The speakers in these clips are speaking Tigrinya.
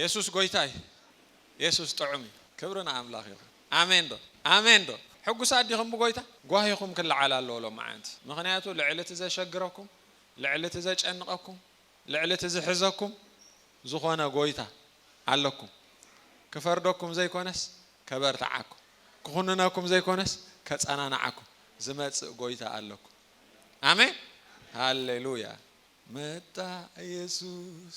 የሱስ ጎይታ እዩ የሱስ ጥዑም እዩ ክብሪ ንኣምላኽ ይኹን ኣሜን ዶ ኣሜን ዶ ሕጉሳት ዲኹም ብጎይታ ጓሂኹም ክለዓል ኣለዎ ሎምዓንቲ ምኽንያቱ ልዕሊ እቲ ዘሸግረኩም ልዕሊ እቲ ዘጨንቐኩም ልዕሊ እቲ ዝሕዘኩም ዝኾነ ጎይታ ኣለኩም ክፈርደኩም ዘይኮነስ ከበርትዓኩም ክኹንነኩም ዘይኮነስ ከጸናንዓኩም ዝመጽእ ጎይታ ኣለኩም ኣሜን ሃሌሉያ መጣ የሱስ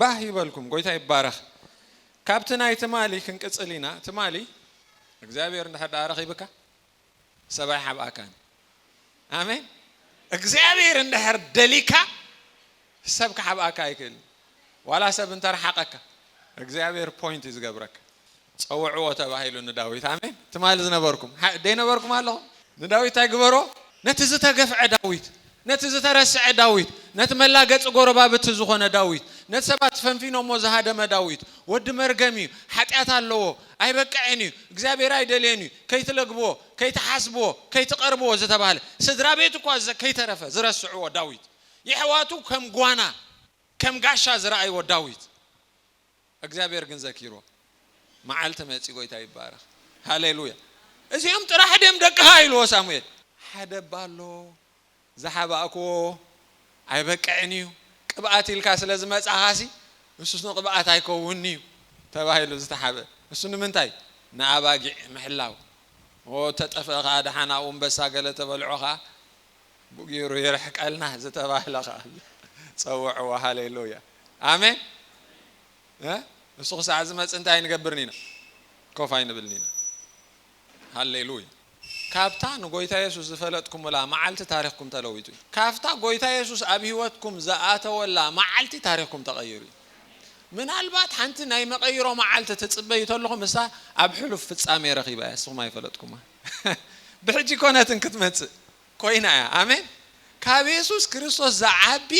ባህ ይበልኩም ጎይታ ይባረኽ ካብቲ ናይ ትማሊ ክንቅጽል ኢና ትማሊ እግዚኣብሔር እንድሕር ድኣ ኣረኺብካ ሰብ ኣይሓብኣካን ኣሜን እግዚኣብሔር እንድሕር ደሊካ ሰብ ክሓብኣካ ኣይክእልን ዋላ ሰብ እንተረሓቀካ እግዚኣብሔር ፖይንት እዩ ዝገብረካ ጸውዕዎ ተባሂሉ ንዳዊት። ኣሜን። ትማሊ ዝነበርኩም፣ ሓ፣ ደይነበርኩም ኣለኹም? ንዳዊት እንታይ ግበሮ? ነቲ ዝተገፍዐ ዳዊት፣ ነቲ ዝተረስዐ ዳዊት፣ ነቲ መላገጺ ጎረባብቲ ዝኾነ ዳዊት፣ ነቲ ሰባት ፈንፊኖሞ ዝሃደመ ዳዊት፣ ወዲ መርገም እዩ፣ ሓጢኣት ኣለዎ፣ ኣይበቅዕን እዩ፣ እግዚኣብሔር ኣይደልዮን እዩ፣ ከይትለግብዎ፣ ከይትሓስብዎ፣ ከይትቐርብዎ ዝተባህለ፣ ስድራ ቤቱ እኳ ዘ፣ ከይተረፈ ዝረስዕዎ ዳዊት፣ የሕዋቱ ከም ጓና፣ ከም ጋሻ ዝረኣይዎ ዳዊት። እግዚኣብሔር ግን ዘኪርዎ መዓልቲ መጺ ጎይታ ይባረኽ ሃሌሉያ እዚኦም ጥራሕ ድም ደቅኻ ኢልዎ ሳሙኤል ሓደ እባ ኣሎ ዝሓባእክዎ ኣይበቅዕን እዩ ቅብኣት ኢልካ ስለ ዝመጻኻሲ እሱስ ንቅብኣት ኣይከውንን እዩ ተባሂሉ ዝተሓብእ እሱ ንምንታይ ንኣባጊዕ ምሕላው ኦ ተጠፍእ ከኣ ደሓን ኣኡ ኣንበሳ ገለ ተበልዖ ከኣ ጽቡቅ ጌሩ ይርሕቀልና ዝተባህለ ከኣ ኣሎ ጸውዕዋ ሃሌሉያ ኣሜን እ ንሱ ክሳዕ ዝመጽእ እንታይ ኣይንገብርን ኢና ኮፍ ኣይንብልን ኢና ሃሌሉያ ካብታ ንጎይታ የሱስ ዝፈለጥኩምላ መዓልቲ ታሪኽኩም ተለዊጡ እዩ ካብታ ጎይታ የሱስ ኣብ ህይወትኩም ዝኣተወላ መዓልቲ ታሪኽኩም ተቐይሩ እዩ ምናልባት ሓንቲ ናይ መቐይሮ መዓልቲ ትጽበዩ ተለኹም እሳ ኣብ ሕሉፍ ፍጻሜ ረኺባ እያ ንስኹም ኣይፈለጥኩማ ብሕጂ ኮነትን ክትመጽእ ኮይና እያ ኣሜን ካብ የሱስ ክርስቶስ ዝዓቢ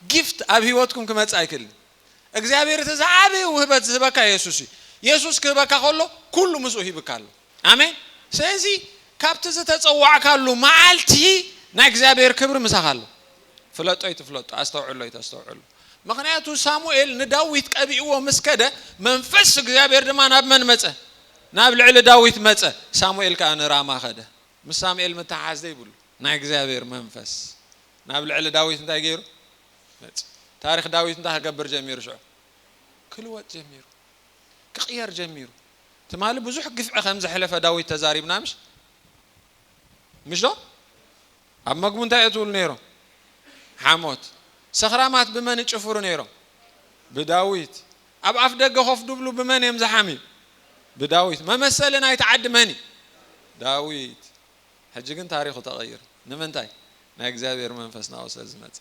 ጊፍት ኣብ ህይወትኩም ክመጽእ ኣይክእልን እግዚኣብሔር እቲ ዝዓበየ ውህበት ዝህበካ የሱስ እዩ የሱስ ክህበካ ከሎ ኩሉ ምስኡ ሂብካ ኣሎ ኣሜን ስለዚ ካብቲ ዝተጸዋዕካሉ መዓልቲ ናይ እግዚኣብሔር ክብሪ ምሳኻ ኣሎ ፍለጦ ይትፍለጦ ኣስተውዕሎ ይተስተውዕሎ ምክንያቱ ሳሙኤል ንዳዊት ቀቢእዎ ምስ ከደ መንፈስ እግዚኣብሔር ድማ ናብ መን መጸ ናብ ልዕሊ ዳዊት መጸ፣ ሳሙኤል ከኣ ንራማ ከደ። ምስ ሳሙኤል ምትሕሓዝ ዘይብሉ ናይ እግዚኣብሔር መንፈስ ናብ ልዕሊ ዳዊት እንታይ ገይሩ? መጸ። ታሪኽ ዳዊት እንታይ ክገብር ጀሚሩ ሽዑ? ክልወጥ ጀሚሩ። ክቕየር ጀሚሩ። ትማሊ ብዙሕ ግፍዒ ከም ዘሕለፈ ዳዊት ተዛሪብና ምሽ? ምሽዶ? ኣብ መግቡ እንታይ እዮ ዝብሉ ነይሮም ሓሞት ሰኽራማት ብመን ይጭፍሩ ነይሮም ብዳዊት ኣብ ኣፍ ደገ ኮፍ ድብሉ ብመን እዬም ዝሓምዩ ብዳዊት መመሰሊ ናይቲ ዓዲ መን እዪ ዳዊት ሕጂ ግን ታሪኹ ተቀይሪ ንምንታይ ናይ እግዚኣብሔር መንፈስ ናብኡ ስለ ዝመጸ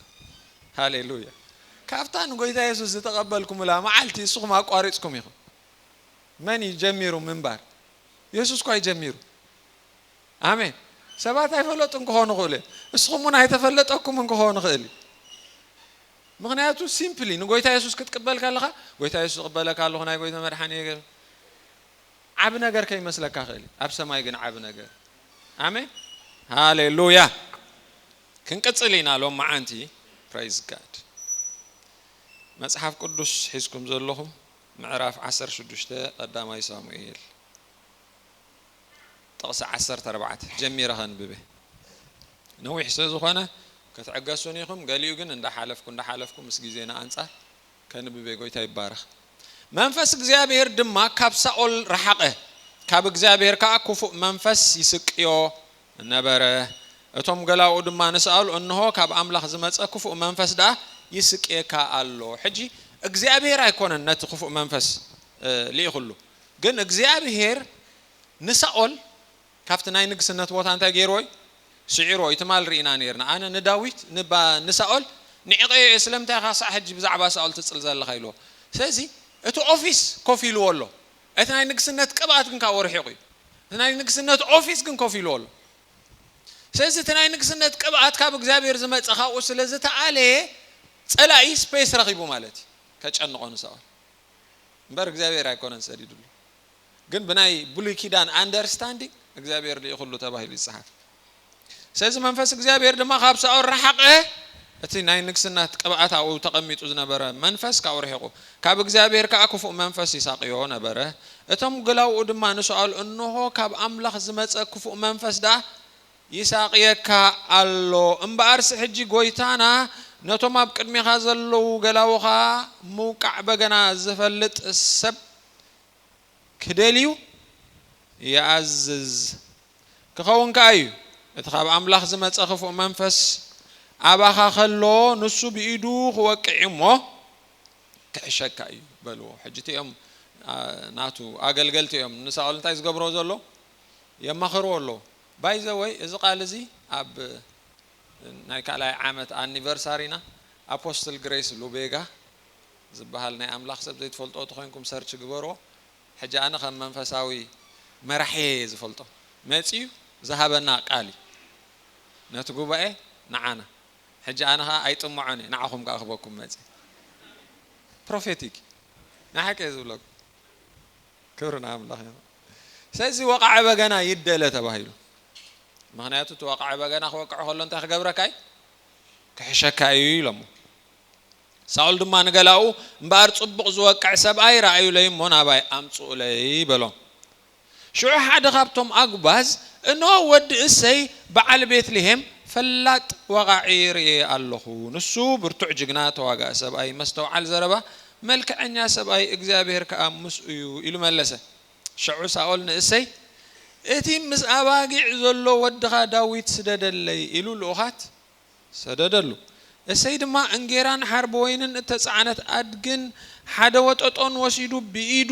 ሃሌሉያ ካብታ ንጎይታ የሱስ ዝተቀበልኩምላ መዓልቲ እስኹም ኣቋሪጽኩም ኢኹም መን እዪ ጀሚሩ ምንባር የሱስ እኳ እዪ ጀሚሩ ኣሜን ሰባት ኣይፈለጡን ክኾኑ ይኽእሉ እዮም እስኹም ውን ኣይተፈለጠኩምን ክኾን ይኽእል እዩ ምኽንያቱ ሲምፕሊ ንጎይታ የሱስ ክትቅበል ከለኻ ጎይታ የሱስ እቕበለካ ኣለኹ ናይ ጎይታ መድሓኒ ዓቢ ነገር ከይመስለካ ክእል እዩ ኣብ ሰማይ ግን ዓቢ ነገር ኣሜን ሃሌሉያ ክንቅጽል ኢና ሎም መዓንቲ ፕራይዝ ጋድ መጽሓፍ ቅዱስ ሒዝኩም ዘለኹም ምዕራፍ 16 ቀዳማይ ሳሙኤል ጥቕሲ ዓሰርተ ኣርባዕተ ጀሚረ ከንብብ ነዊሕ ስለ ዝኾነ ክትዕገሱኒ ኢኹም ገሊኡ ግን እንዳሓለፍኩ እንዳሓለፍኩ ምስ ግዜና ኣንጻር ከንብብ ጎይታ ይባረኽ መንፈስ እግዚኣብሔር ድማ ካብ ሳኦል ረሓቐ ካብ እግዚኣብሔር ከኣ ክፉእ መንፈስ ይስቅዮ ነበረ እቶም ገላኡ ድማ ንሳኦል እንሆ ካብ ኣምላኽ ዝመጸ ክፉእ መንፈስ ደኣ ይስቅየካ ኣሎ ሕጂ እግዚኣብሔር ኣይኮነን ነቲ ክፉእ መንፈስ ልኢኹሉ ግን እግዚኣብሄር ንሳኦል ካብቲ ናይ ንግስነት ቦታ እንታይ ገይርዎ እዩ? ስዒርዎ እዩ። ትማል ርኢና ኔርና። ኣነ ንዳዊት ን ንሳኦል ንዕቐዮ እየ ስለምንታይ ኢኻ ክሳዕ ሕጂ ብዛዕባ ሳኦል ትጽል ዘለኻ ኢልዎ። ስለዚ እቲ ኦፊስ ኮፍ ኢልዎ ኣሎ። እቲ ናይ ንግስነት ቅብኣት ግን ካብኡ ርሒቑ እዩ። እቲ ናይ ንግስነት ኦፊስ ግን ኮፍ ኢልዎ ኣሎ። ስለዚ እቲ ናይ ንግስነት ቅብኣት ካብ እግዚኣብሄር ዝመጸ ካብኡ ስለ ዝተኣለየ ጸላኢ ስፔስ ረኺቡ ማለት እዩ ከጨንቖ ንሳኦል። እምበር እግዚኣብሔር ኣይኮነን ሰዲዱሉ ግን ብናይ ብሉይ ኪዳን ኣንደርስታንዲንግ እግዚኣብሔር ልኢኹሉ ተባሂሉ ይጽሓፍ ስለዚ መንፈስ እግዚኣብሔር ድማ ካብ ሳኦል ረሓቐ እቲ ናይ ንግስናት ቅብኣት ኣብኡ ተቐሚጡ ዝነበረ መንፈስ ካብኡ ርሒቑ ካብ እግዚኣብሔር ከዓ ክፉእ መንፈስ ይሳቕዮ ነበረ እቶም ገላውኡ ድማ ንሳኦል እንሆ ካብ ኣምላኽ ዝመፀ ክፉእ መንፈስ ደኣ ይሳቕየካ ኣሎ እምበኣርሲ ሕጂ ጐይታና ነቶም ኣብ ቅድሜኻ ዘለዉ ገላዉኻ ምውቃዕ በገና ዝፈልጥ ሰብ ክደልዩ ይኣዝዝ። ክኸውን ከኣ እዩ እቲ ካብ ኣምላኽ ዝመጸ ክፉእ መንፈስ ኣባኻ ከሎ ንሱ ብኢዱ ክወቅዕ እዩ እሞ ክሕሸካ እዩ በልዎ። ሕጂ እቲኦም ናቱ ኣገልገልቲ እዮም ንሳኦል እንታይ ዝገብሮ ዘሎ የማኽርዎ ኣለዉ። ባይ ዘ ወይ እዚ ቃል እዚ ኣብ ናይ ካልኣይ ዓመት ኣኒቨርሳሪና ኣፖስትል ግሬስ ሉቤጋ ዝብሃል ናይ ኣምላኽ ሰብ ዘይትፈልጥዎ ተኾይንኩም ሰርች ግበርዎ ሕጂ ኣነ ከም መንፈሳዊ መራሒየይ እየ ዝፈልጦ መጺኡ ዝሃበና ቃል እዩ ነቲ ጉባኤ ንዓና ሕጂ ኣነ ከኣ ኣይጥምዖን እየ ንዓኹም ከኣ ክህበኩም መጺኡ ፕሮፌቲክ እዩ ናይ ሓቂ እየ ዝብለኩም። ክብሪ ንኣምላኽ ይኹን። ስለዚ ወቓዒ በገና ይደለ ተባሂሉ። ምኽንያቱ እቲ ወቓዒ በገና ክወቅዕ ከሎ እንታይ ክገብረካ እዩ? ክሕሸካ እዩ ኢሎሞ። ሳኦል ድማ ንገላኡ እምበኣር ጽቡቕ ዝወቅዕ ሰብኣይ ረኣዩለይ እሞ ናባይ ኣምጽኡለይ በሎ። ሽዑ ሓደ ካብቶም ኣጉባዝ እንሆ ወዲ እሰይ በዓል ቤት ልሄም ፈላጥ ወቓዒ ርእየ ኣለኹ፣ ንሱ ብርቱዕ ጅግና ተዋጋኢ ሰብኣይ፣ መስተውዓል ዘረባ መልክዐኛ ሰብኣይ እግዚኣብሄር ከኣ ምስኡ እዩ ኢሉ መለሰ። ሸዑ ሳኦል ንእሰይ፣ እቲ ምስ ኣባጊዕ ዘሎ ወድኻ ዳዊት ስደደለይ ኢሉ ልኡኻት ሰደደሉ። እሰይ ድማ እንጌራን ሓርቢ ወይንን እተጻዕነት ኣድግን ሓደ ወጠጦን ወሲዱ ብኢዱ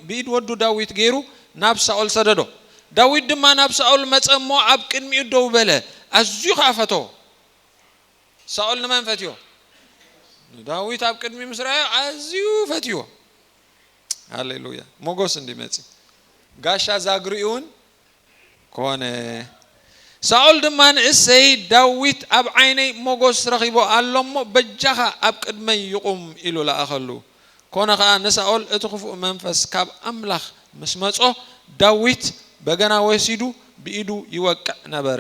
ብኢድ ወዱ ዳዊት ገይሩ ናብ ሳኦል ሰደዶ። ዳዊት ድማ ናብ ሳኦል መጸ እሞ ኣብ ቅድሚኡ ደው በለ፣ ኣዝዩ ኸኣ ፈተዎ። ሳኦል ንመን ፈትዮ? ንዳዊት ኣብ ቅድሚ ምስ ረኣዮ ኣዝዩ ፈትይዎ። ሃሌሉያ! ሞገስ እንድዩ መጺኡ፣ ጋሻ ዛግሪኡውን ኮነ። ሳኦል ድማ ንእሴይ፣ ዳዊት ኣብ ዓይነይ ሞገስ ረኺቡ ኣሎ እሞ፣ በጃኻ ኣብ ቅድመይ ይቑም ኢሉ ለኣኸሉ። ኮነ ኸኣ፣ ንሳኦል እቲ ኽፉእ መንፈስ ካብ ኣምላኽ ምስ መጾ፣ ዳዊት በገና ወሲዱ ብኢዱ ይወቅዕ ነበረ።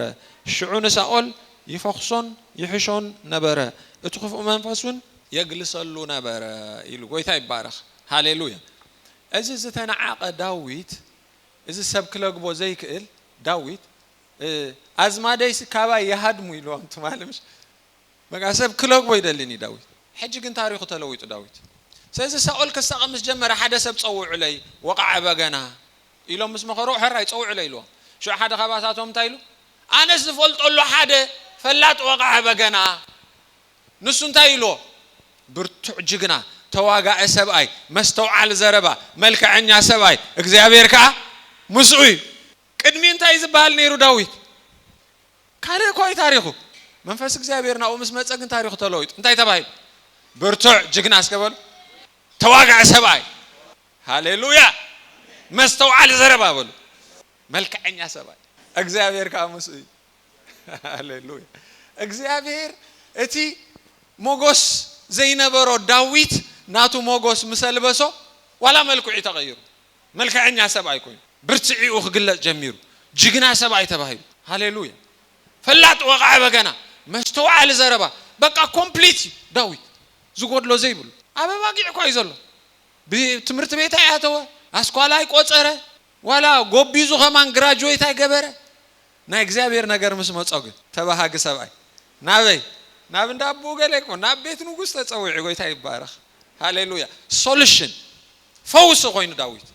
ሽዑ ንሳኦል ይፈኹሶን ይሕሾን ነበረ፣ እቲ ኽፉእ መንፈስ ውን የግልሰሉ ነበረ ኢሉ። ጎይታ ይባረኽ። ሃሌሉያ። እዚ ዝተናዓቀ ዳዊት እዚ ሰብ ክለግቦ ዘይክእል ዳዊት ኣዝማደይሲ ካባይ ይሃድሙ ኢልዎም ትማሊ ምሽ በቃ ሰብ ክለግቦ ይደሊን እዩ ዳዊት ሕጂ ግን ታሪኹ ተለዊጡ ዳዊት ስለዚ ሳኦል ክሳቀ ምስ ጀመረ ሓደ ሰብ ጸውዑለይ ወቃዐ በገና ኢሎም ምስ መኸርዎ፣ ሕራይ ጸውዕለ ኢልዎም። ሽዑ ሓደ ኻባታቶም እንታይ ኢሉ፣ ኣነስ ዝፈልጦ ኣሎ ሓደ ፈላጥ ወቓዒ በገና። ንሱ እንታይ ኢልዎ፣ ብርቱዕ ጅግና፣ ተዋጋኢ ሰብኣይ፣ መስተውዓሊ ዘረባ፣ መልከዐኛ ሰብኣይ፣ እግዚኣብሄር ከኣ ምስኡ እዩ። ቅድሚ እንታይ እዩ ዝበሃል ነይሩ ዳዊት? ካልእ እኳ እዩ ታሪኹ። መንፈስ እግዚኣብሄር ናብኡ ምስ መጸ ግን ታሪኹ ተለዊጡ። እንታይ ተባሂሉ? ብርቱዕ ጅግና እስከ በሉ፣ ተዋጋኢ ሰብኣይ። ሃሌሉያ መስተውዓሊ ዘረባ በሉ መልከዐኛ ሰብኣይ እግዚኣብሔር ከኣ ምስኡ እዩ ሃሌሉያ እግዚኣብሔር እቲ ሞጎስ ዘይነበሮ ዳዊት ናቱ ሞጎስ ምስ ኣልበሶ ዋላ መልክዑ እዩ ተቀይሩ መልከዐኛ ሰብኣይ ኮይኑ ብርትዒኡ ክግለጽ ጀሚሩ ጅግና ሰብኣይ ተባሂሉ ሃሌሉያ ፈላጥ ወቃዒ በገና መስተውዓሊ ዘረባ በቃ ኮምፕሊት እዩ ዳዊት ዝጎድሎ ዘይብሉ ኣብ ኣባጊዕ እኳ እዩ ዘሎ ብትምህርቲ ቤት ኣይኣተወ፣ ኣስኳላ ኣይቆጸረ፣ ዋላ ጎቢዙ ከማን ግራጁዌት ኣይገበረ፣ ናይ እግዚኣብሔር ነገር ምስ መጾ ግን ተባሃጊ ሰብኣይ፣ ናበይ? ናብ እንዳ ኣቡኡ ገሌ ክኾን፣ ናብ ቤት ንጉስ ተጸዊዑ፣ ጎይታ ይባረኽ፣ ሃሌሉያ፣ ሶሉሽን፣ ፈውሲ ኮይኑ ዳዊት፣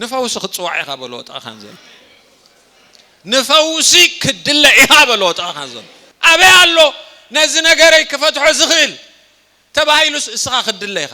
ንፈውሲ ክትጽዋዕ ኢኻ በልዎ ጥቓኻ ንዘሎ፣ ንፈውሲ ክትድለ ኢኻ በልዎ ጥቓኻ ንዘሎ፣ ኣበይ ኣሎ ነዚ ነገረይ ክፈትሖ ዝኽእል ተባሂሉስ እስኻ ክትድለ ኢኻ።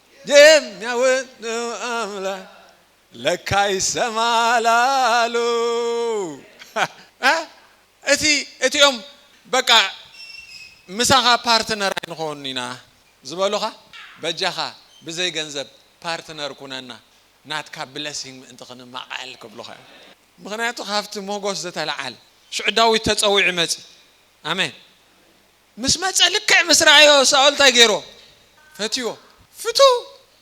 የሚያውቅ አምላክ ለካ ይሰማል አሉ። እቲ እቲኦም በቃ ምሳኻ ፓርትነር ኣይንኸውን ኢና ዝበሉኻ በጃኻ ብዘይ ገንዘብ ፓርትነር ኩነና ናትካ ብለሲንግ ምእንቲ ክንማቐል ክብሉኻ እዮም ምኽንያቱ ካብቲ ሞጎስ ዝተልዓል ሽዑ ዳዊት ተጸዊዑ መጺ ኣሜን ምስ መጸ ልክዕ ምስ ረኣዮ ሳኦል እንታይ ገይሮ ፈትዎ። ፍቱው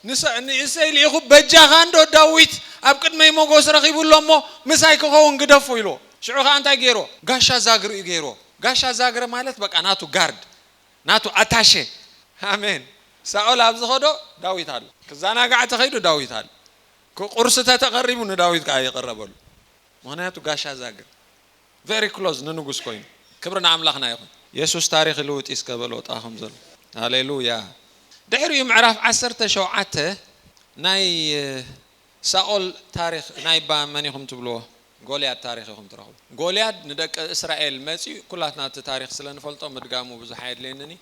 ንሰ ንእሰይ ልኢኹ በጃኻ እንዶ ዳዊት ኣብ ቅድመይ ሞጎስ ረኺቡ ኣሎ እሞ ምሳይ ክኸውን ግደፎ ኢልዎ። ሽዑ ከኣ እንታይ ገይሮ ጋሻ ዛግሩ እዩ ገይርዎ። ጋሻ ዛግረ ማለት በቃ ናቱ ጋርድ ናቱ ኣታሸ ኣሜን ሳኦል ኣብ ዝኸዶ ዳዊት ኣሎ ክዛናጋዕ ተኸይዱ ዳዊት ኣሎ ክቁርሲ ተተቀሪቡ ንዳዊት ከኣ ይቅረበሉ ምኽንያቱ ጋሻ ዛግር Very close ንንጉስ ኮይኑ ክብሪ ንኣምላኽና ይኹን። የሱስ ታሪኽ ይልውጥ ኢስከ በሎ ጣ ከምዘሎ ሃሌሉያ ድሕሪኡ ምዕራፍ ዓሰርተ ሸውዓተ ናይ ሳኦል ታሪኽ ናይ ብ መን ኢኹም ትብልዎ ጎልያድ ታሪኽ ኢኹም ትረኽቡ ጎልያድ ንደቂ እስራኤል መጺኡ ኩላትና እቲ ታሪኽ ስለ ንፈልጦ ምድጋሙ ብዙሕ ኣየድልየንን እዩ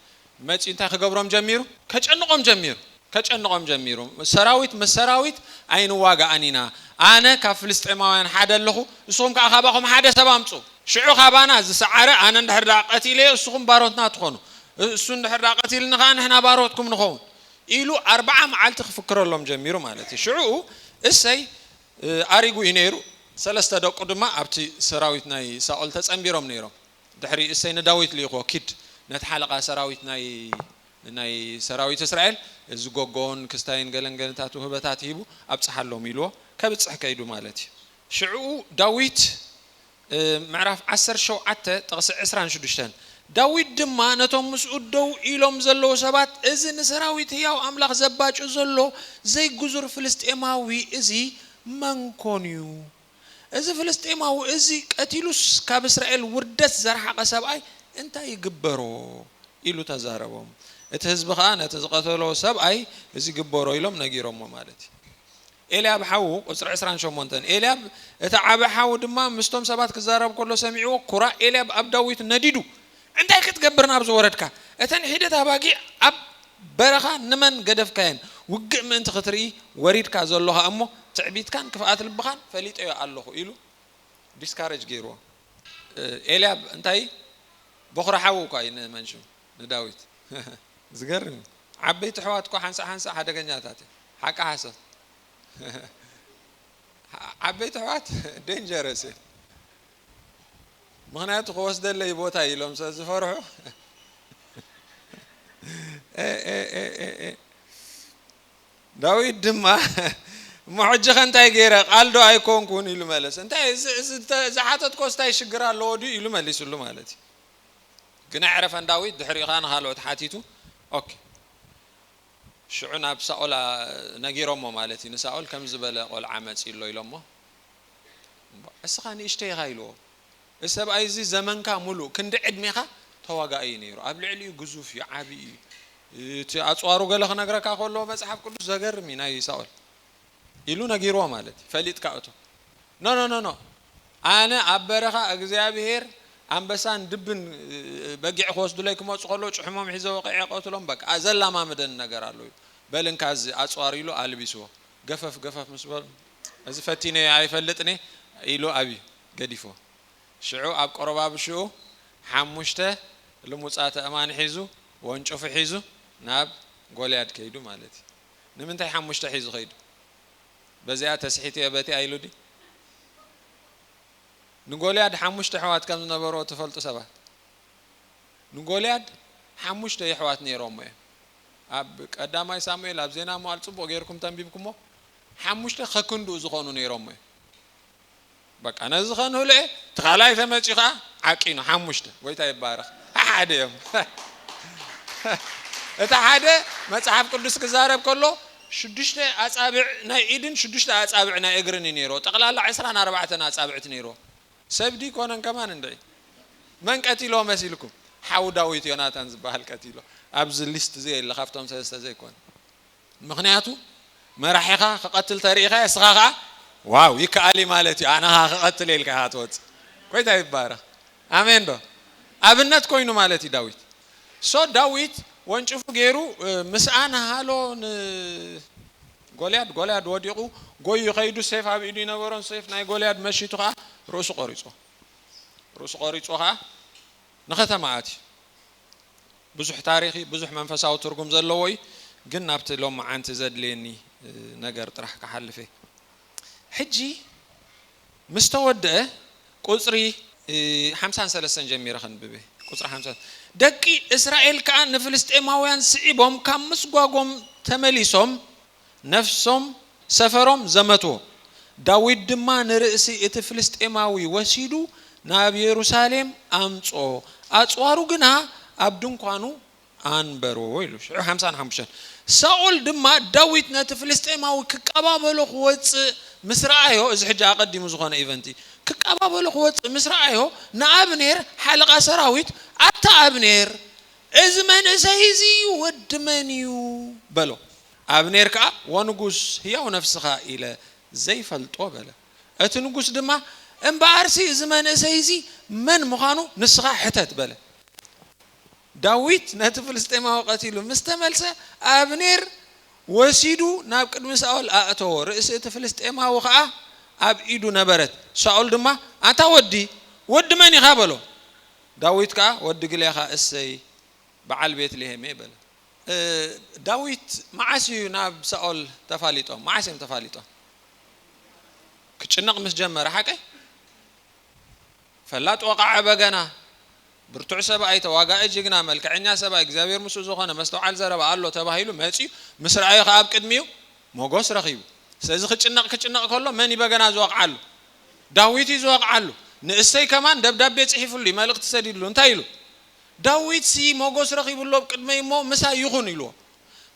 መጺኡ እንታይ ክገብሮም ጀሚሩ ከጨንቆም ጀሚሩ ከጨንቆም ጀሚሩ ሰራዊት ምስ ሰራዊት ኣይንዋጋእን ኢና ኣነ ካብ ፍልስጤማውያን ሓደ ኣለኹ ንስኹም ከኣ ካባኹም ሓደ ሰብ ኣምጹ ሽዑ ካባና ዝሰዓረ ኣነ እንድሕር ደኣ ቀቲለዮ ንስኹም ባሮትና ትኾኑ እሱ እንድሕር ደኣ ቀቲልኒ ከኣ ንሕና ባሮትኩም ንኸውን ኢሉ ኣርብዓ መዓልቲ ክፍክረሎም ጀሚሩ ማለት እዩ ሽዑ እሰይ ኣሪጉ እዩ ነይሩ ሰለስተ ደቁ ድማ ኣብቲ ሰራዊት ናይ ሳኦል ተጸንቢሮም ነይሮም ድሕሪ እሴይ ንዳዊት ልኢኽዎ፣ ኪድ፣ ነቲ ሓለቓ ሰራዊት ናይ ናይ ሰራዊት እስራኤል፣ እዚ ጎጎን ክስታይን ገለን ገንታቱ ህበታት ሂቡ ኣብጽሓሎም፣ ኢልዎ፣ ከብጽሕ ከይዱ ማለት እዩ። ሽዕኡ ዳዊት፣ ምዕራፍ ዓሰርተ ሸውዓተ ጥቕሲ ዕስራን ሽዱሽተን፣ ዳዊት ድማ ነቶም ምስኡ ደው ኢሎም ዘለዉ ሰባት፣ እዚ ንሰራዊት ህያው ኣምላኽ ዘባጩ ዘሎ ዘይግዙር ፍልስጥኤማዊ እዚ መን ኰን እዩ? እዚ ፍልስጤማዊ እዚ ቀቲሉስ ካብ እስራኤል ውርደት ዘርሓቐ ሰብኣይ እንታይ ይግበሮ? ኢሉ ተዛረቦም። እቲ ህዝቢ ኸኣ ነቲ ዝቐተሎ ሰብኣይ እዚ ግበሮ ኢሎም ነጊሮሞ ማለት እዩ። ኤልያብ ሓዉ፣ ቁጽሪ ዕስራን ሸሞንተን፣ ኤልያብ እቲ ዓቢ ሓዉ ድማ ምስቶም ሰባት ክዛረብ ከሎ ሰሚዕዎ፣ ኩራ ኤልያብ ኣብ ዳዊት ነዲዱ፣ እንታይ ክትገብር ናብዚ ወረድካ? እተን ሒደት ኣባጊዕ ኣብ በረኻ ንመን ገደፍካየን? ውግእ ምእንቲ ኽትርኢ ወሪድካ ዘሎኻ እሞ፣ ትዕቢትካን ክፍኣት ልብኻን ፈሊጠዮ ኣሎኹ ኢሉ ዲስካረጅ ገይርዎ። ኤልያብ እንታይ በዅሪ ሓዉ እኳ እዩ ንመንሹ ንዳዊት። ዝገርም እዩ ዓበይቲ ኣሕዋት እኮ ሓንሳእ ሓንሳእ ሓደገኛታት እዮም ሓቂ ሓሶት ዓበይቲ ኣሕዋት ደንጀረስ እዮም። ምክንያቱ ክወስደለይ ቦታ ኢሎም ስለ ዝፈርሑ ዳዊት ድማ እሞ ሕጂ ከ እንታይ ገይረ ቃል ዶ ኣይኮንኩን ኢሉ መለሰ እንታይ ዝሓተትኮስ እንታይ ሽግር ኣለዎ ድዩ ኢሉ መሊስሉ ማለት እዩ ግን ኣዕረፈን ዳዊት ድሕሪኡ ከዓ ንካልኦት ሓቲቱ ኦኬ ሽዑ ናብ ሳኦል ነጊሮሞ ማለት እዩ ንሳኦል ከም ዝበለ ቆልዓ መፂ ኣሎ ኢሎሞ እስኻ ንእሽተይ ኢኻ ኢልዎ። እዚ ሰብኣይ እዚ ዘመንካ ምሉእ ክንዲ ዕድሜኻ ተዋጋኢ እዩ ነይሩ። ኣብ ልዕሊኡ ግዙፍ እዩ፣ ዓቢ እዩ። እቲ ኣጽዋሩ ገለ ክነግረካ ከሎ መጽሓፍ ቅዱስ ዘገርም እዩ ናይ ሳኦል ኢሉ ነጊርዎ ማለት እዩ። ፈሊጥካ እቶ ኖ ኖ ኖ ኖ ኣነ ኣብ በረኻ እግዚኣብሄር ኣንበሳን ድብን በጊዕ ክወስዱለይ ክመፁ ከሎ ጭሕሞም ሒዘ ወቂዐ ቀትሎም በቃ ዘላማምደን ነገር ኣሎ እዩ በልንካ እዚ ኣፅዋር ኢሉ ኣልቢስዎ ገፈፍ ገፈፍ ምስ በሉ፣ እዚ ፈቲነዮ ኣይፈልጥን'የ፣ ኢሉ ኣብዩ ገዲፍዎ። ሽዑ ኣብ ቆረባብሽኡ ሓሙሽተ ልሙጻት ኣእማን ሒዙ፣ ወንጭፉ ሒዙ፣ ናብ ጎልያድ ከይዱ ማለት'ዩ። ንምንታይ ሓሙሽተ ሒዙ ከይዱ? በዚኣ ተስሒቱ'የ በቲኣ ኢሉ ድዩ? ንጎልያድ ሓሙሽተ ኣሕዋት ከም ዝነበርዎ ትፈልጡ ሰባት፣ ንጎልያድ ሓሙሽተ የሕዋት ነይሮምዎ'ዮም። ኣብ ቀዳማይ ሳሙኤል ኣብ ዜና መዋዕል ጽቡቕ ጌርኩም ተንቢብኩሞ ሓሙሽተ ከክንድኡ ዝኾኑ ነይሮሞ እዮም በቃ ነዚ ከንህልዔ እቲ ካልኣይ ተመጺኡ ከዓ ዓቂኑ ሓሙሽተ ጎይታ ይባረኽ ሓደ እዮም እቲ ሓደ መጽሓፍ ቅዱስ ክዛረብ ከሎ ሽዱሽተ ኣጻብዕ ናይ ኢድን ሽዱሽተ ኣጻብዕ ናይ እግርን እዩ ነይሮ ጠቕላላ ዕስራን ኣርባዕተን ኣጻብዕቲ ነይሮ ሰብ ድዩ ኮነን ከማን እንድዒ መን ቀቲሎ መሲልኩም ሓው ዳዊት ዮናታን ዝበሃል ቀቲሎ ኣብዚ ሊስት እዚ የለ ካብቶም ሰለስተ ዘይኮነ ምክንያቱ መራሒኻ ክቐትል ተሪኢኻ እስኻ ከዓ ዋው ይከኣል ማለት እዩ ኣነ ከዓ ክቐትል ኢልካ ኢኻ ትወፅእ ኮይታ ይባረኽ ኣሜን ዶ ኣብነት ኮይኑ ማለት እዩ ዳዊት ሶ ዳዊት ወንጭፉ ገይሩ ምስኣን ሃሎ ን ጎልያድ ጎልያድ ወዲቑ ጎዩ ከይዱ ሴፍ ኣብ ኢዱ ይነበሮን ሴፍ ናይ ጎልያድ መሺቱ ከኣ ርእሱ ቆሪጹ ርእሱ ቆሪጹ ከኣ ንከተማ ኣትዩ ብዙሕ ታሪኽ እዩ ብዙሕ መንፈሳዊ ትርጉም ዘለዎ እዩ ግን ናብቲ ሎምዓንቲ ዘድልየኒ ነገር ጥራሕ ክሓልፍ እየ ሕጂ ምስ ተወድኣ ቍጽሪ ሓምሳን ሰለስተን ጀሚረ ከንብብ እየ፣ ቍጽሪ ሓምሳ፣ ደቂ እስራኤል ከኣ ንፍልስጥኤማውያን ስዒቦም ካብ ምስጓጎም ተመሊሶም ነፍሶም ሰፈሮም ዘመትዎ፣ ዳዊት ድማ ንርእሲ እቲ ፍልስጥኤማዊ ወሲዱ ናብ የሩሳሌም ኣምጽኦ፣ ኣጽዋሩ ግና ኣብ ድንኳኑ ኣንበሮ ኢሉ ሽዑ ሓምሳን ሓሙሽተን ሳኦል ድማ ዳዊት ነቲ ፍልስጤማዊ ክቀባበሎ ክወጽእ ምስ ረኣዮ እዚ ሕጂ ኣቐዲሙ ዝኾነ ኢቨንት እዩ ክቀባበሎ ክወጽእ ምስ ረኣዮ ንኣብኔር ሓለቓ ሰራዊት ኣታ ኣብኔር እዚ መንእሰይ እዚ እዩ ወዲ መን እዩ በሎ ኣብኔር ከኣ ወንጉስ ህያው ነፍስኻ ኢለ ዘይፈልጦ በለ እቲ ንጉስ ድማ እምበኣርሲ እዚ መንእሰይ እዚ መን ምዃኑ ንስኻ ሕተት በለ ዳዊት ነቲ ፍልስጤማዊ ቀቲሉ ምስ ተመልሰ፣ ኣብኔር ወሲዱ ናብ ቅድሚ ሳኦል ኣእተዎ፣ ርእሲ እቲ ፍልስጤማዊ ኸኣ ኣብ ኢዱ ነበረት። ሳኦል ድማ፣ ኣንታ ወዲ፣ ወዲ መን ኢኻ? በሎ። ዳዊት ከኣ፣ ወዲ ግሌኻ እሴይ፣ ብዓል ቤት-ልሄም'የ፣ በለ። ዳዊት መዓስ እዩ ናብ ሳኦል ተፋሊጦም? መዓስ እዮም ተፋሊጦም? ክጭነቕ ምስ ጀመረ ሓቀይ? ፈላጥ ወቃዐ በገና ብርቱዕ ሰብኣይ ተዋጋኢ ጅግና መልከዐኛ ሰብኣይ እግዚኣብሔር ምስኡ ዝኾነ መስተውዓል ዘረባ ኣሎ ተባሂሉ መጺኡ ምስ ረኣዮ ከኣ ኣብ ቅድሚኡ ሞጎስ ረኺቡ ስለዚ ክጭነቅ ክጭነቅ ከሎ መን እዩ በገና ዝወቅዓሉ ዳዊት እዩ ዝወቅዓሉ ንእሰይ ከማን ደብዳቤ ጽሒፍሉ እዩ መልእኽቲ ሰዲድሉ እንታይ ኢሉ ዳዊት ሲ ሞጎስ ረኺቡ ኣሎ ኣብ ቅድመይ እሞ ምሳይ ይኹን ኢልዎ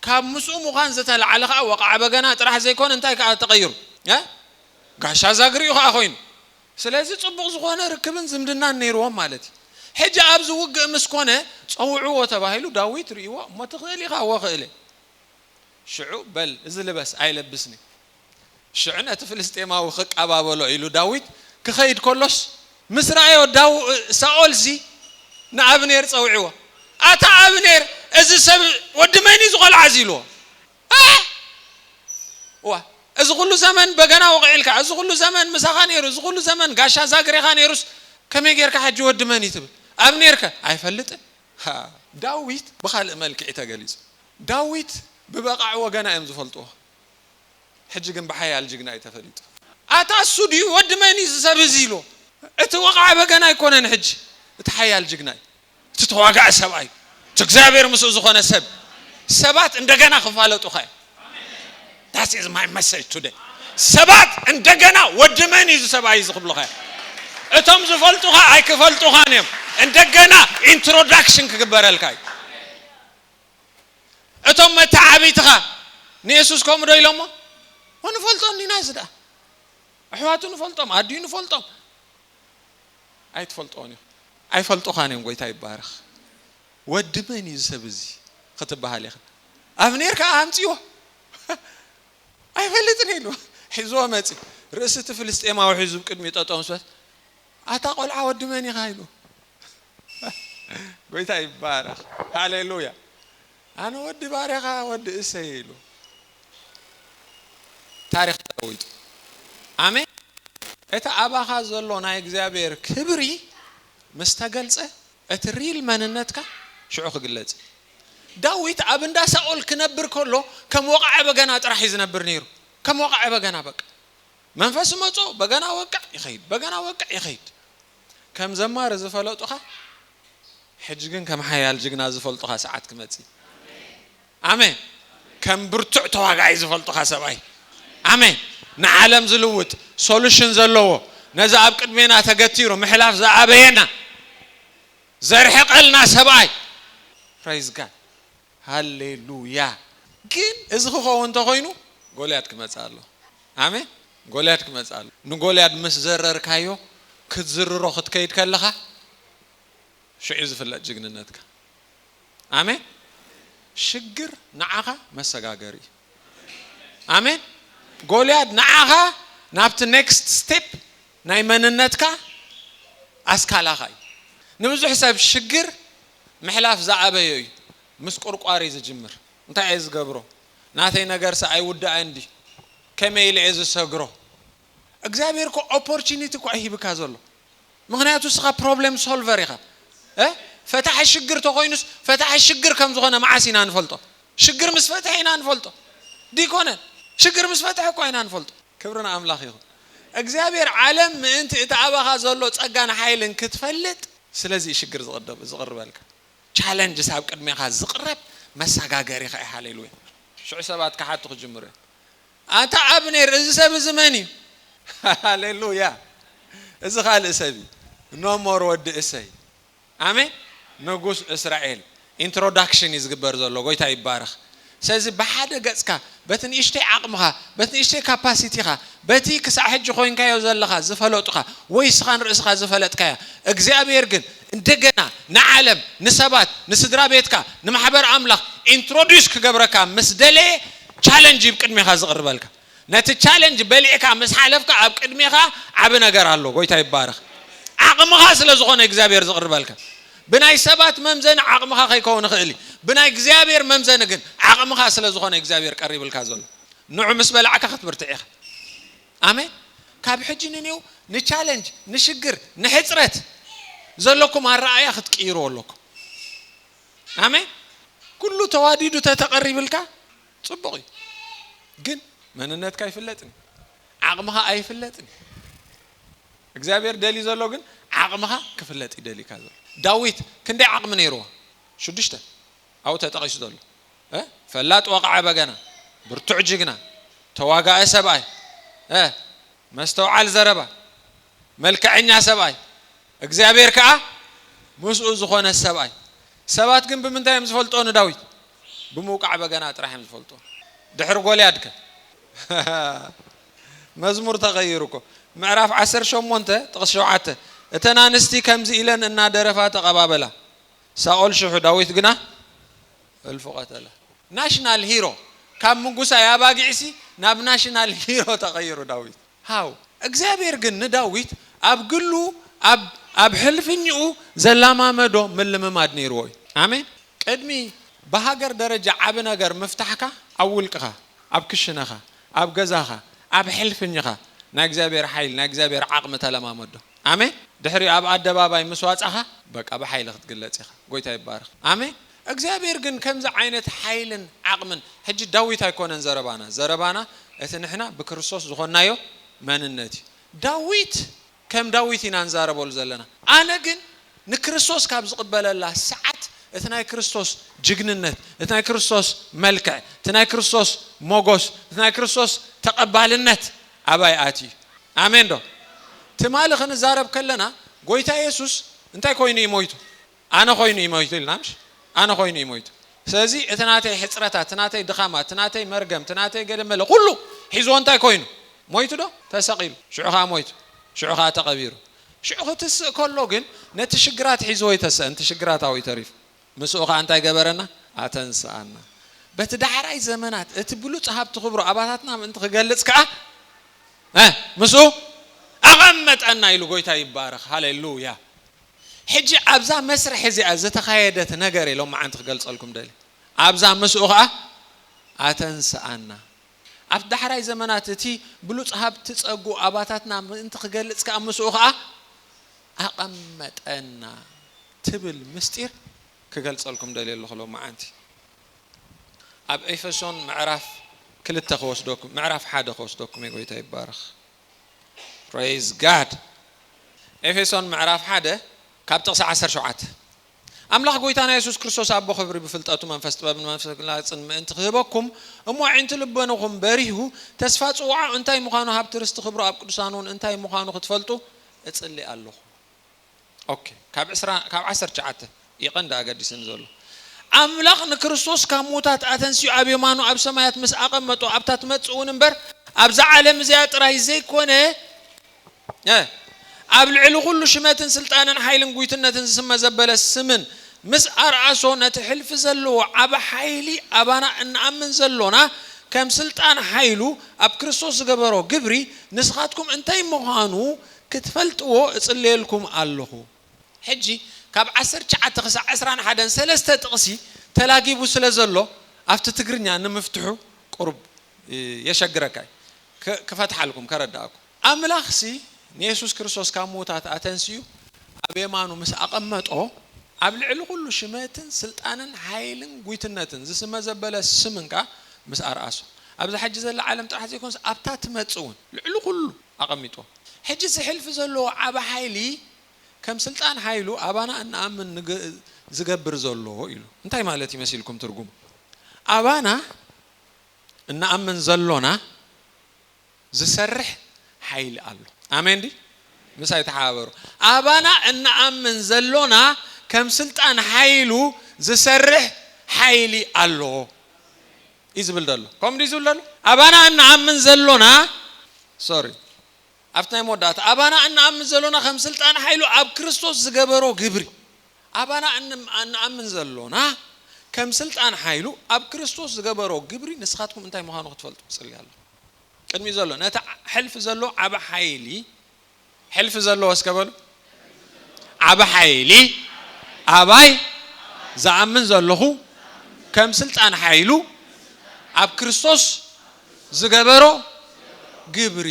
ካብ ምስኡ ምዃን ዝተላዕለ ከኣ ወቃዐ በገና ጥራሕ ዘይኮነ እንታይ ከኣ ተቀይሩ ጋሻ ዛግሪኡ ከኣ ኮይኑ ስለዚ ጽቡቕ ዝኾነ ርክብን ዝምድናን ነይርዎም ማለት እዩ። ሕጂ ኣብ ዝውግእ ምስ ኮነ፣ ጸውዕዎ ተባሂሉ ዳዊት ርእይዎ፣ እሞ ትኽእል ኢኻ ወክእለ። ሽዑ በል እዚ ልበስ ኣይለብስን እዩ። ሽዑ ነቲ ፍልስጤማዊ ክቀባበሎ ኢሉ ዳዊት ክኸይድ ከሎስ ምስ ረኣዮ ሳኦልሲ ንኣብኔር ጸውዕዎ ኣታ ኣብኔር እዚ ሰብ ወዲ መን እዩ ዝቆልዓዚ ኢልዎ። እዋ እዚ ኩሉ ዘመን በገና ወቂዕልካ እዚ ኩሉ ዘመን ምሳኻ ነይሩ እዚ ኩሉ ዘመን ጋሻ ዛግሬኻ ነይሩስ ከመይ ጌርካ ሕጂ ወዲ መን እዩ ትብል ኣብኔርከ ኣይፈልጥን ዳዊት ብኻልእ መልክዒ ተገሊጹ ዳዊት ብበቓዕ ወገና እዮም ዝፈልጥዎ ሕጂ ግን ብሓያል ጅግና እዩ ተፈሊጡ። ኣታ እሱ ድዩ ወዲ መን እዩ እዚ ሰብ እዚ ኢልዎ እቲ ወቓዒ በገና ኣይኮነን ሕጂ እቲ ሓያል ጅግና እዩ። እቲ ተዋጋኢ ሰብኣይ እቲ እግዚኣብሔር ምስኡ ዝኾነ ሰብ ሰባት እንደገና ክፋለጡኻ እዮም That is my message today ሰባት እንደገና ወዲ መን እዩ ሰብኣይ እዚ ክብሉኻ እዮም እቶም ዝፈልጡኻ ኣይክፈልጡኻን እዮም እንደገና ኢንትሮዳክሽን ክግበረልካ እዩ እቶም መተዓቢትኻ ንየሱስ ከምኡ ዶ ኢሎሞ ወንፈልጦ እንዲና እዚ ደኣ ኣሕዋቱ ንፈልጦም ኣድዩ ንፈልጦም ኣይትፈልጦን ኢኹም ኣይፈልጡኻን እዮም ጎይታ ይባረኽ ወዲ መን እዩ ዝሰብ እዚ ክትባሃል ኢኻ ኣብኔር ከኣ ኣምጺዎ ኣይፈልጥን ኢሉ ሒዝዎ መጺ ርእሲ እቲ ፍልስጤማዊ ሒዙ ብቅድሚኡ ጠጠው ምስ በለ ኣታ ቆልዓ ወዲ መን ኢኻ ኢሉ ጎይታ ይባረኽ ሃሌሉያ ኣነ ወዲ ባርያኻ ወዲ እሰይ ኢሉ ታሪኽ ተለዊጡ ኣሜን እቲ ኣባኻ ዘሎ ናይ እግዚኣብሔር ክብሪ ምስ ተገልጸ እቲ ሪል መንነትካ ሽዑ ክግለጽ እዩ ዳዊት ኣብ እንዳ ሳኦል ክነብር ከሎ ከም ወቓዒ በገና ጥራሕ እዩ ዝነብር ነይሩ ከም ወቓዒ በገና በቃ መንፈስ መጾ በገና ወቅዕ ይኸይድ በገና ወቅዕ ይኸይድ ከም ዘማሪ ዝፈለጡኻ ሕጂ ግን ከም ሓያል ጅግና ዝፈልጡኻ ሰዓት ክመጽእ ኣሜን ከም ብርቱዕ ተዋጋኣይ ዝፈልጡኻ ሰብኣይ ኣሜን ንዓለም ዝልውጥ ሶሉሽን ዘለዎ ነዚ ኣብ ቅድሜና ተገቲሩ ምሕላፍ ዝኣበየና ዘርሕቀልና ሰብኣይ ፕራይዝ ጋድ ሃሌሉያ ግን እዚ ክከውን እንተኮይኑ ጎልያድ ክመጽእ ኣለዎ ኣሜን ጎልያድ ክመጽእ ኣለዎ ንጎልያድ ምስ ዘረርካዮ ክትዝርሮ ክትከይድ ከለካ ሽዑ እዩ ዝፍለጥ ጅግንነትካ ኣሜን ሽግር ንዓካ መሰጋገሪ እዩ ኣሜን ጎልያድ ንዓካ ናብቲ ኔክስት ስቴፕ ናይ መንነትካ ኣስካላካ እዩ ንብዙሕ ሰብ ሽግር ምሕላፍ ዝኣበዮ እዩ ምስ ቁርቋር እዩ ዝጅምር እንታይ እየ ዝገብሮ ናተይ ነገርሰ ኣይውዳእን ድዩ ከመይ ኢለ እየ ዝሰግሮ እግዚኣብሔር እኮ ኦፖርቹኒቲ እኮ ኣይሂብካ ዘሎ ምክንያቱ እስኻ ፕሮብሌም ሶልቨር ኢኻ ፈታሒ ሽግር ተኮይኑስ ፈታሒ ሽግር ከም ዝኾነ መዓስ ኢና ንፈልጦ ሽግር ምስ ፈትሐ ኢና ንፈልጦ ዲኮነ ሽግር ምስ ፈትሐ እኳ ኢና ንፈልጦ ክብሪ ንኣምላኽ ይኹን እግዚኣብሔር ዓለም ምእንቲ እቲ ኣባኻ ዘሎ ጸጋን ሓይልን ክትፈልጥ ስለዚ እዩ ሽግር ዝቅደብ ዝቅርበልካ ቻለንጅስ ኣብ ቅድሜኻ ዝቅረብ መሳጋገሪ ከኣ ሃሌሉ እዩ ሽዑ ሰባት ክሓቱ ክጅምሩ እዮም ኣንታ ኣብኔር እዚ ሰብ እዚ መን እዩ ሃሌሉያ እዚ ካልእ ሰብ እዩ ኖሞር ወዲ እሰይ ኣሜን ንጉስ እስራኤል ኢንትሮዳክሽን እዩ ዝግበር ዘሎ ጎይታ ይባረኽ ስለዚ ብሓደ ገጽካ በቲ ንእሽተይ ዓቕምኻ በቲ ንእሽተይ ካፓሲቲኻ በቲ ክሳዕ ሕጂ ኮይንካዮ ዘለኻ ዝፈለጡኻ ወይ እስኻ ንርእስኻ ዝፈለጥካያ እግዚኣብሄር ግን እንደገና ንዓለም ንሰባት ንስድራቤትካ ንማሕበር ኣምላኽ ኢንትሮዱስ ክገብረካ ምስ ደለየ ቻለንጅ እዩ ቅድሜኻ ዝቕርበልካ ነቲ ቻለንጅ በሊዕካ ምስ ሓለፍካ ኣብ ቅድሜኻ ዓቢ ነገር ኣሎ ጎይታ ይባረኽ ዓቕምኻ ስለ ዝኾነ እዩ እግዚኣብሔር ዝቕርበልካ ብናይ ሰባት መምዘኒ ዓቕምኻ ከይከውን ይኽእል እዩ ብናይ እግዚኣብሔር መምዘኒ ግን ዓቕምኻ ስለ ዝኾነ እዩ እግዚኣብሔር ቀሪብልካ ዘሎ ንዑ ምስ በላዕካ ክትብርትዕ ኢኻ ኣሜን ካብ ሕጂ ንኔው ንቻለንጅ ንሽግር ንሕጽረት ዘለኩም ኣረኣእያ ክትቅይርዎ ኣለኩም ኣሜን ኩሉ ተዋዲዱ ተተቐሪብልካ ጽቡቕ እዩ ግን መንነትካ ይፍለጥን እዩ ዓቕምኻ ኣይፍለጥን እዩ እግዚኣብሔር ደልዩ ዘሎ ግን ዓቕምኻ ክፍለጥ እዩ ደልዩካ ዘሎ ዳዊት ክንደይ ዓቕሚ ነይርዎ ሽዱሽተ ኣብኡ ተጠቒሱ ዘሎ ፈላጥ ወቕዓ በገና ብርቱዕ ጅግና ተዋጋኢ ሰብኣይ መስተውዓል ዘረባ መልክዐኛ ሰብኣይ እግዚኣብሄር ከኣ ምስኡ ዝዀነ ሰብኣይ። ሰባት ግን ብምንታይ እዮም ዝፈልጥዎ ንዳዊት? ብምውቃዕ በገና ጥራሕ እዮም ዝፈልጥዎ። ድሕሪ ጎልያድ ከ? መዝሙር ተቐይሩ እኮ። ምዕራፍ ዓሰርተ ሸሞንተ ጥቕሲ ሸውዓተ፣ እተን ኣንስቲ ከምዚ ኢለን እናደረፋ ተቐባበላ፣ ሳኦል ሽሕ፣ ዳዊት ግና እልፉ ቐተለ። ናሽናል ሂሮ፣ ካብ ምጉሳይ ኣባጊዕሲ ናብ ናሽናል ሂሮ ተቐይሩ ዳዊት። ሃው እግዚኣብሔር ግን ንዳዊት ኣብ ግሉ ኣብ ኣብ ሕልፍኚኡ ዘላማመዶ ምልምማድ ነይርዎ እዩ። ኣሜን ቅድሚ ብሃገር ደረጃ ዓቢ ነገር ምፍታሕካ ኣብ ውልቅኻ ኣብ ክሽነኻ ኣብ ገዛኻ ኣብ ሕልፍኚኻ ናይ እግዚኣብሔር ሓይሊ ናይ እግዚኣብሔር ዓቅሚ ተለማመዶ ኣሜን ድሕሪኡ ኣብ ኣደባባይ ምስ ዋጻኻ በቃ ብሓይሊ ክትግለጽ ኢኻ ጎይታ ይባረኽ ኣሜን እግዚኣብሔር ግን ከምዚ ዓይነት ሓይልን ዓቕምን ሕጂ ዳዊት ኣይኮነን ዘረባና ዘረባና እቲ ንሕና ብክርስቶስ ዝኾንናዮ መንነት እዩ ዳዊት ከም ዳዊት ኢና ንዛረበሉ ዘለና ኣነ ግን ንክርስቶስ ካብ ዝቕበለላ ሰዓት እቲ ናይ ክርስቶስ ጅግንነት እቲ ናይ ክርስቶስ መልክዕ እቲ ናይ ክርስቶስ ሞጎስ እቲ ናይ ክርስቶስ ተቐባልነት ኣባይ ኣትዩ እዩ ኣሜን ዶ ትማሊ ክንዛረብ ከለና ጎይታ የሱስ እንታይ ኮይኑ እዩ ሞይቱ ኣነ ኮይኑ እዩ ሞይቱ ኢልና ምሽ ኣነ ኮይኑ እዩ ሞይቱ ስለዚ እቲ ናተይ ሕጽረታት እቲ ናተይ ድኻማት እቲ ናተይ መርገም እቲ ናተይ ገለ መለ ኩሉ ሒዝዎ እንታይ ኮይኑ ሞይቱ ዶ ተሰቒሉ ሽዑ ከኣ ሞይቱ ሽዑ ከኣ ተቐቢሩ ሽዑ ክትስእ ከሎ ግን ነቲ ሽግራት ሒዝዎ ኣይተሰእን እቲ ሽግራት ኣብኡ እዩ ተሪፉ ምስኡ ከኣ እንታይ ገበረና ኣተንስኣና በቲ ዳሕራይ ዘመናት እቲ ብሉጽ ሃብቲ ክብሩ ኣባታትና ምእንቲ ክገልጽ ከኣ ምስኡ ኣቐመጠና ኢሉ ጎይታ ይባረኽ ሃሌሉያ ሕጂ ኣብዛ መስርሕ እዚኣ ዝተኻየደት ነገር እየ ሎምዓንቲ ክገልጸልኩም ደልየ። ኣብዛ ምስኡ ከኣ ኣተንስኣና። ኣብቲ ዳሕራይ ዘመናት እቲ ብሉጽ ሃብቲ ጸግኡ ኣባታትና ምእንቲ ክገልጽ ከኣ ምስኡ ከኣ ኣቐመጠና ትብል ምስጢር ክገልጸልኩም ደልየ ኣለኹ ሎምዓንቲ። ኣብ ኤፈሶን ምዕራፍ ክልተ ክወስደኩም ምዕራፍ ሓደ ክወስደኩም እየ ጎይታ ይባረኽ። Praise God! ኤፌሶን ምዕራፍ ሓደ ካብ ጥቕሲ ዓሰርተ ሸውዓተ ኣምላኽ ጎይታና የሱስ ክርስቶስ ኣቦ ክብሪ ብፍልጠቱ መንፈስ ጥበብን መንፈስ ምግላጽን ምእንቲ ክህበኩም እሞ ኣዒንቲ ልበኑኹም በሪሁ ተስፋ ጽውዓኡ እንታይ ምዃኑ ሃብቲ ርስቲ ክብሩ ኣብ ቅዱሳንውን እንታይ ምዃኑ ክትፈልጡ እጽሊ ኣሎኹ። ኦኬ ካብ ዕስራ ካብ ዓሰርተ ትሽዓተ እዩ ቀንዲ ኣገዲስኒ ዘሎ ኣምላኽ ንክርስቶስ ካብ ምዉታት ኣተንሲኡ ኣብ የማኑ ኣብ ሰማያት ምስ ኣቐመጦ ኣብታ ትመጽእ እውን እምበር ኣብዛ ዓለም እዚኣ ጥራይ ዘይኮነ ኣብ ልዕሊ ኩሉ ሽመትን ስልጣንን ሓይልን ጉይትነትን ዝስመ ዘበለ ስምን ምስ ኣርኣሶ ነቲ ሕልፊ ዘለዎ ዓቢ ሓይሊ ኣባና እንኣምን ዘሎና ከም ስልጣን ሓይሉ ኣብ ክርስቶስ ዝገበሮ ግብሪ ንስኻትኩም እንታይ ምዃኑ ክትፈልጥዎ እጽልየልኩም ኣሎኹ። ሕጂ ካብ ዓሰርተ ትሽዓተ ክሳዕ ዕስራን ሓደን ሰለስተ ጥቕሲ ተላጊቡ ስለ ዘሎ ኣብቲ ትግርኛ ንምፍትሑ ቁሩብ የሸግረካ እዩ። ክፈትሓልኩም ከረድኣኩም። ኣምላኽሲ ንየሱስ ክርስቶስ ካብ ምዉታት ኣተንሲኡ ኣብ የማኑ ምስ ኣቐመጦ ኣብ ልዕሊ ኩሉ ሽመትን ስልጣንን ሓይልን ጉይትነትን ዝስመ ዘበለ ስም እንከኣ ምስ ኣርኣሶ ኣብዛ ሕጂ ዘላ ዓለም ጥራሕ ዘይኮነስ ኣብታ ትመጽእ እውን ልዕሊ ኩሉ ኣቐሚጡ። ሕጂ ዝሕልፍ ዘሎ ዓቢ ሓይሊ ከም ስልጣን ሓይሉ ኣባና እንኣምን ንግ ዝገብር ዘሎ ኢሉ። እንታይ ማለት እዩ መሲልኩም ትርጉም ኣባና እንኣምን ዘሎና ዝሰርሕ ሓይሊ ኣሎ። ኣሜን ድዩ? ምሳይ ተሓባበሩ። ኣባና እንኣምን ዘሎና ከም ስልጣን ሓይሉ ዝሰርሕ ሓይሊ ኣሎ። እዩ ዝብል ዘሎ ከምኡ ድዩ ዝብል ዘሎ ኣባና እንኣምን ዘሎና ሶሪ ኣብቲ ናይ መወዳእታ ኣባና እንኣምን ዘሎና ከም ስልጣን ሓይሉ ኣብ ክርስቶስ ዝገበሮ ግብሪ ኣባና እንኣምን ዘሎና ከም ስልጣን ሓይሉ ኣብ ክርስቶስ ዝገበሮ ግብሪ ንስኻትኩም እንታይ ምዃኑ ክትፈልጡ ትጽሊ ኣሎ ቅድሚ ዘሎ ነቲ ሕልፊ ዘሎ ዓቢ ሓይሊ ሕልፊ ዘለዎ እስከ በሉ ዓቢ ሓይሊ ኣባይ ዝኣምን ዘለኹ ከም ስልጣን ሓይሉ ኣብ ክርስቶስ ዝገበሮ ግብሪ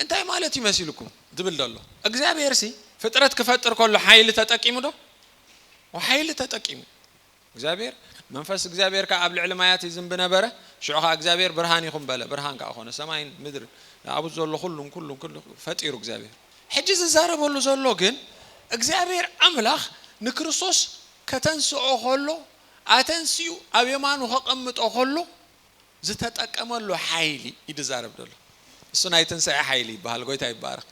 እንታይ ማለት እዩ መሲልኩም ዝብል ዘሎ እግዚኣብሄርሲ ፍጥረት ክፈጥር ከሎ ሓይሊ ተጠቂሙ ዶ ሓይሊ ተጠቂሙ እግዚኣብሄር፣ መንፈስ እግዚኣብሄር ከኣ ኣብ ልዕሊ ማያት ይዝንቢ ነበረ፣ ሽዑ ኸኣ እግዚኣብሄር፣ ብርሃን ይኹን በለ፣ ብርሃን ከኣ ኾነ። ሰማይን ምድርን ኣብኡ ዘሎ ዅሉን ኵሉን ኵሉን ፈጢሩ እግዚኣብሄር። ሕጂ ዝዛረበሉ ዘሎ ግን እግዚኣብሄር ኣምላኽ ንክርስቶስ ከተንስኦ ኸሎ ኣተንሲኡ ኣብ የማኑ ከቐምጦ ኸሎ ዝተጠቀመሉ ሓይሊ እዩ ዝዛረብ ዘሎ እሱ ናይ ትንሳኤ ሓይሊ ይበሃል ጎይታ ይባረኽ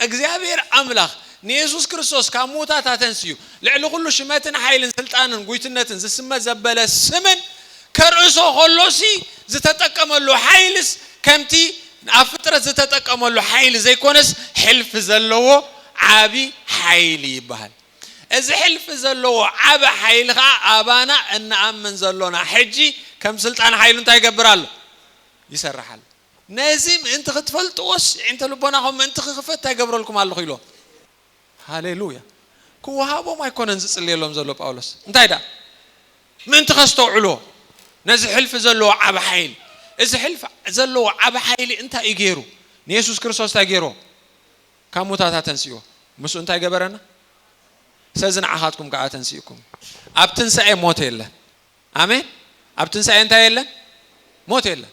እግዚኣብሔር ኣምላኽ ንየሱስ ክርስቶስ ካብ ምዉታት ኣተንስዩ ልዕሊ ኩሉ ሽመትን ሓይልን ስልጣንን ጉይትነትን ዝስመ ዘበለ ስምን ከርእሶ ከሎሲ ዝተጠቀመሉ ሓይልስ ከምቲ ኣብ ፍጥረት ዝተጠቀመሉ ሓይሊ ዘይኮነስ ሕልፊ ዘለዎ ዓቢ ሓይሊ ይበሃል እዚ ሕልፊ ዘለዎ ዓቢ ሓይሊ ከኣ ኣባና እንኣምን ዘሎና ሕጂ ከም ስልጣን ሓይሉ እንታይ ይገብር ኣሎ? ይሰርሕ ኣሎ። ነዚ ምእንቲ ክትፈልጥዎስ የዒንተ ልቦናኹም ምእንቲ ክኽፈት እንታይ እገብረልኩም ኣለኹ ኢልዎም። ሃሌሉያ! ክወሃቦም ኣይኮነን ዝጽልየሎም ዘሎ ጳውሎስ፣ እንታይ ደኣ ምእንቲ ከስተውዕልዎ ነዚ ሕልፊ ዘለዎ ዓቢ ሓይሊ። እዚ ሕልፊ ዘለዎ ዓቢ ሓይሊ እንታይ እዩ ገይሩ? ንየሱስ ክርስቶስ እንታይ ገይርዎ? ካብ ሙታት ኣተንስእዎ፣ ምስኡ እንታይ ገበረና? ስለዚ ንዓኻትኩም ከኣ ኣተንሲእኩም። ኣብ ትንሳኤ ሞት የለን። ኣሜን። ኣብ ትንሳኤ እንታይ የለን? ሞት የለን።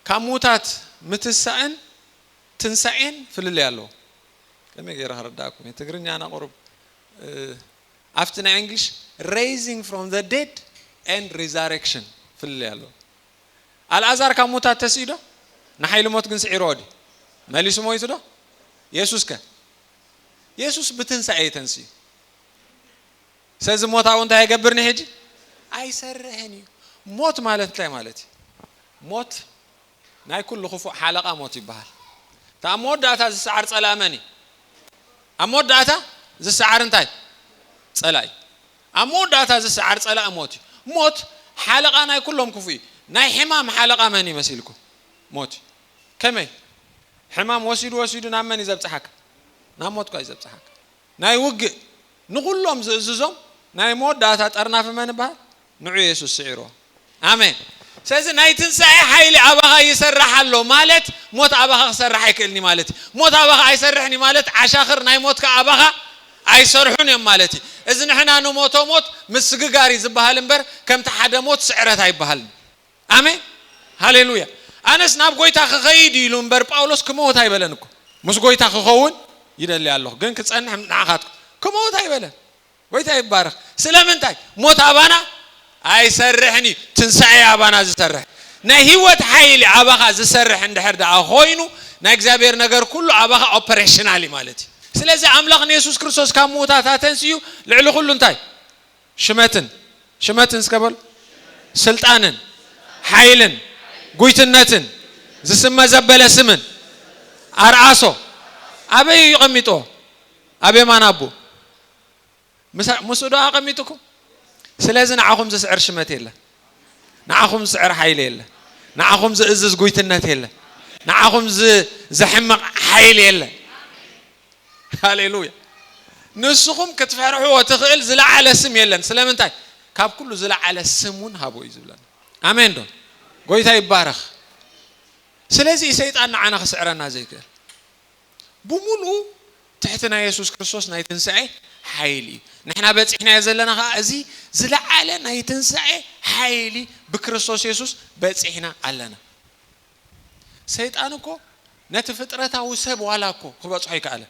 ካብ ሙታት ምትሳእን ትንሳኤን ፍልልይ ኣለዎ። ከመይ ገይረ ከረዳእኩም እየ? ትግርኛና ቁሩብ ኣብቲ ናይ እንግሊሽ ሬይዚንግ ፍሮም ዘ ዴድ ኤንድ ሪዛሬክሽን ፍልልይ ኣለዎ። ኣልኣዛር ካብ ሙታት ተሲእዶ? ንሓይሊ ሞት ግን ስዒርዎ ድዩ? መሊሱ ሞይቱዶ? የሱስከ? የሱስ ብትንሳኤ እዩ ተንሲኡ። ስለዚ ሞት ኣብኡ እንታይ ኣይገብርን'ዩ ሕጂ? ኣይሰርሕን እዩ። ሞት ማለት እንታይ ማለት እዩ? ሞት ናይ ኩሉ ክፉእ ሓለቓ ሞት ይበሃል። እቲ ኣብ መወዳእታ ዝሰዓር ጸላኢ መን እዩ? ኣብ መወዳእታ ዝሰዓር እንታይ? ጸላኢ እዩ። ኣብ መወዳእታ ዝሰዓር ጸላኢ ሞት እዩ። ሞት ሓለቓ ናይ ኩሎም ክፉእ እዩ። ናይ ሕማም ሓለቓ መን እዩ መሲልኩም? ሞት እዩ። ከመይ? ሕማም ወሲዱ ወሲዱ ናብ መን እዩ ዘብጽሓካ? ናብ ሞትኳ እዩ ዘብጽሓካ። ናይ ውግእ ንኹሎም ዝእዝዞም ናይ መወዳእታ ጠርናፊ መን ይበሃል? ንዑ የሱስ ስዒርዎ። ኣሜን ስለዚ ናይ ትንሳኤ ሓይሊ ኣባኻ ይሰራሕ ኣሎ ማለት ሞት ኣባኻ ክሰርሕ ኣይክእልን እዩ ማለት እዩ ሞት ኣባኻ ኣይሰርሕን እዩ ማለት ዓሻኽር ናይ ሞት ከኣ ኣባኻ ኣይሰርሑን እዮም ማለት እዩ እዚ ንሕና ንሞቶ ሞት ምስግጋር እዩ ዝበሃል እምበር ከምቲ ሓደ ሞት ስዕረት ኣይበሃልን ኣሜን ሃሌሉያ ኣነስ ናብ ጎይታ ክኸይድ እዩ ኢሉ እምበር ጳውሎስ ክመውት ኣይበለን እኮ ምስ ጎይታ ክኸውን ይደሊ ኣለኹ ግን ክጸንሕ ንዓኻትኩም ክመውት ኣይበለን ጎይታ ይባረኽ ስለምንታይ ሞት ኣባና ኣይሰርሕን እዩ ትንሳኤ እዩ ኣባና ዝሰርሕ ናይ ህይወት ሓይሊ ኣባኻ ዝሰርሕ እንድሕር ደኣ ኮይኑ ናይ እግዚኣብሔር ነገር ኩሉ ኣባኻ ኦፐሬሽናል እዩ ማለት እዩ ስለዚ ኣምላኽ ንየሱስ ክርስቶስ ካብ ምዉታት ኣተንሲኡ ልዕሊ ኩሉ እንታይ ሽመትን ሽመትን እስከ በሉ ስልጣንን ሓይልን ጉይትነትን ዝስመ ዘበለ ስምን ኣርኣሶ ኣበይ እዩ ቀሚጦ ኣብ የማን ኣቦ ምሳ ምስኡ ዶ ኣቐሚጥኩም? ስለዚ ንዓኹም ዝስዕር ሽመት የለን፣ ንዓኹም ዝስዕር ሓይሊ የለን፣ ንዓኹም ዝእዝዝ ጉይትነት የለን፣ ንዓኹም ዘሕምቕ ሓይሊ የለን። ሃሌሉያ! ንስኹም ክትፈርሕዎ ትኽእል ዝለዓለ ስም የለን። ስለምንታይ? ካብ ኩሉ ዝለዓለ ስም እውን ሃቦ እዩ ዝብለና። ኣሜን ዶ? ጎይታ ይባረኽ። ስለዚ እዩ ሰይጣን ንዓና ክስዕረና ዘይክእል። ብምሉኡ ትሕቲ ናይ የሱስ ክርስቶስ ናይ ትንሳኤ ሓይሊ እዩ። ንሕና በጺሕናዮ ዘለና ኸኣ እዚ ዝለዓለ ናይ ትንሳኤ ሓይሊ ብክርስቶስ የሱስ በጺሕና ኣለና። ሰይጣን እኮ ነቲ ፍጥረታዊ ሰብ ዋላ እኮ ክበጽሖ ኣይከኣለ።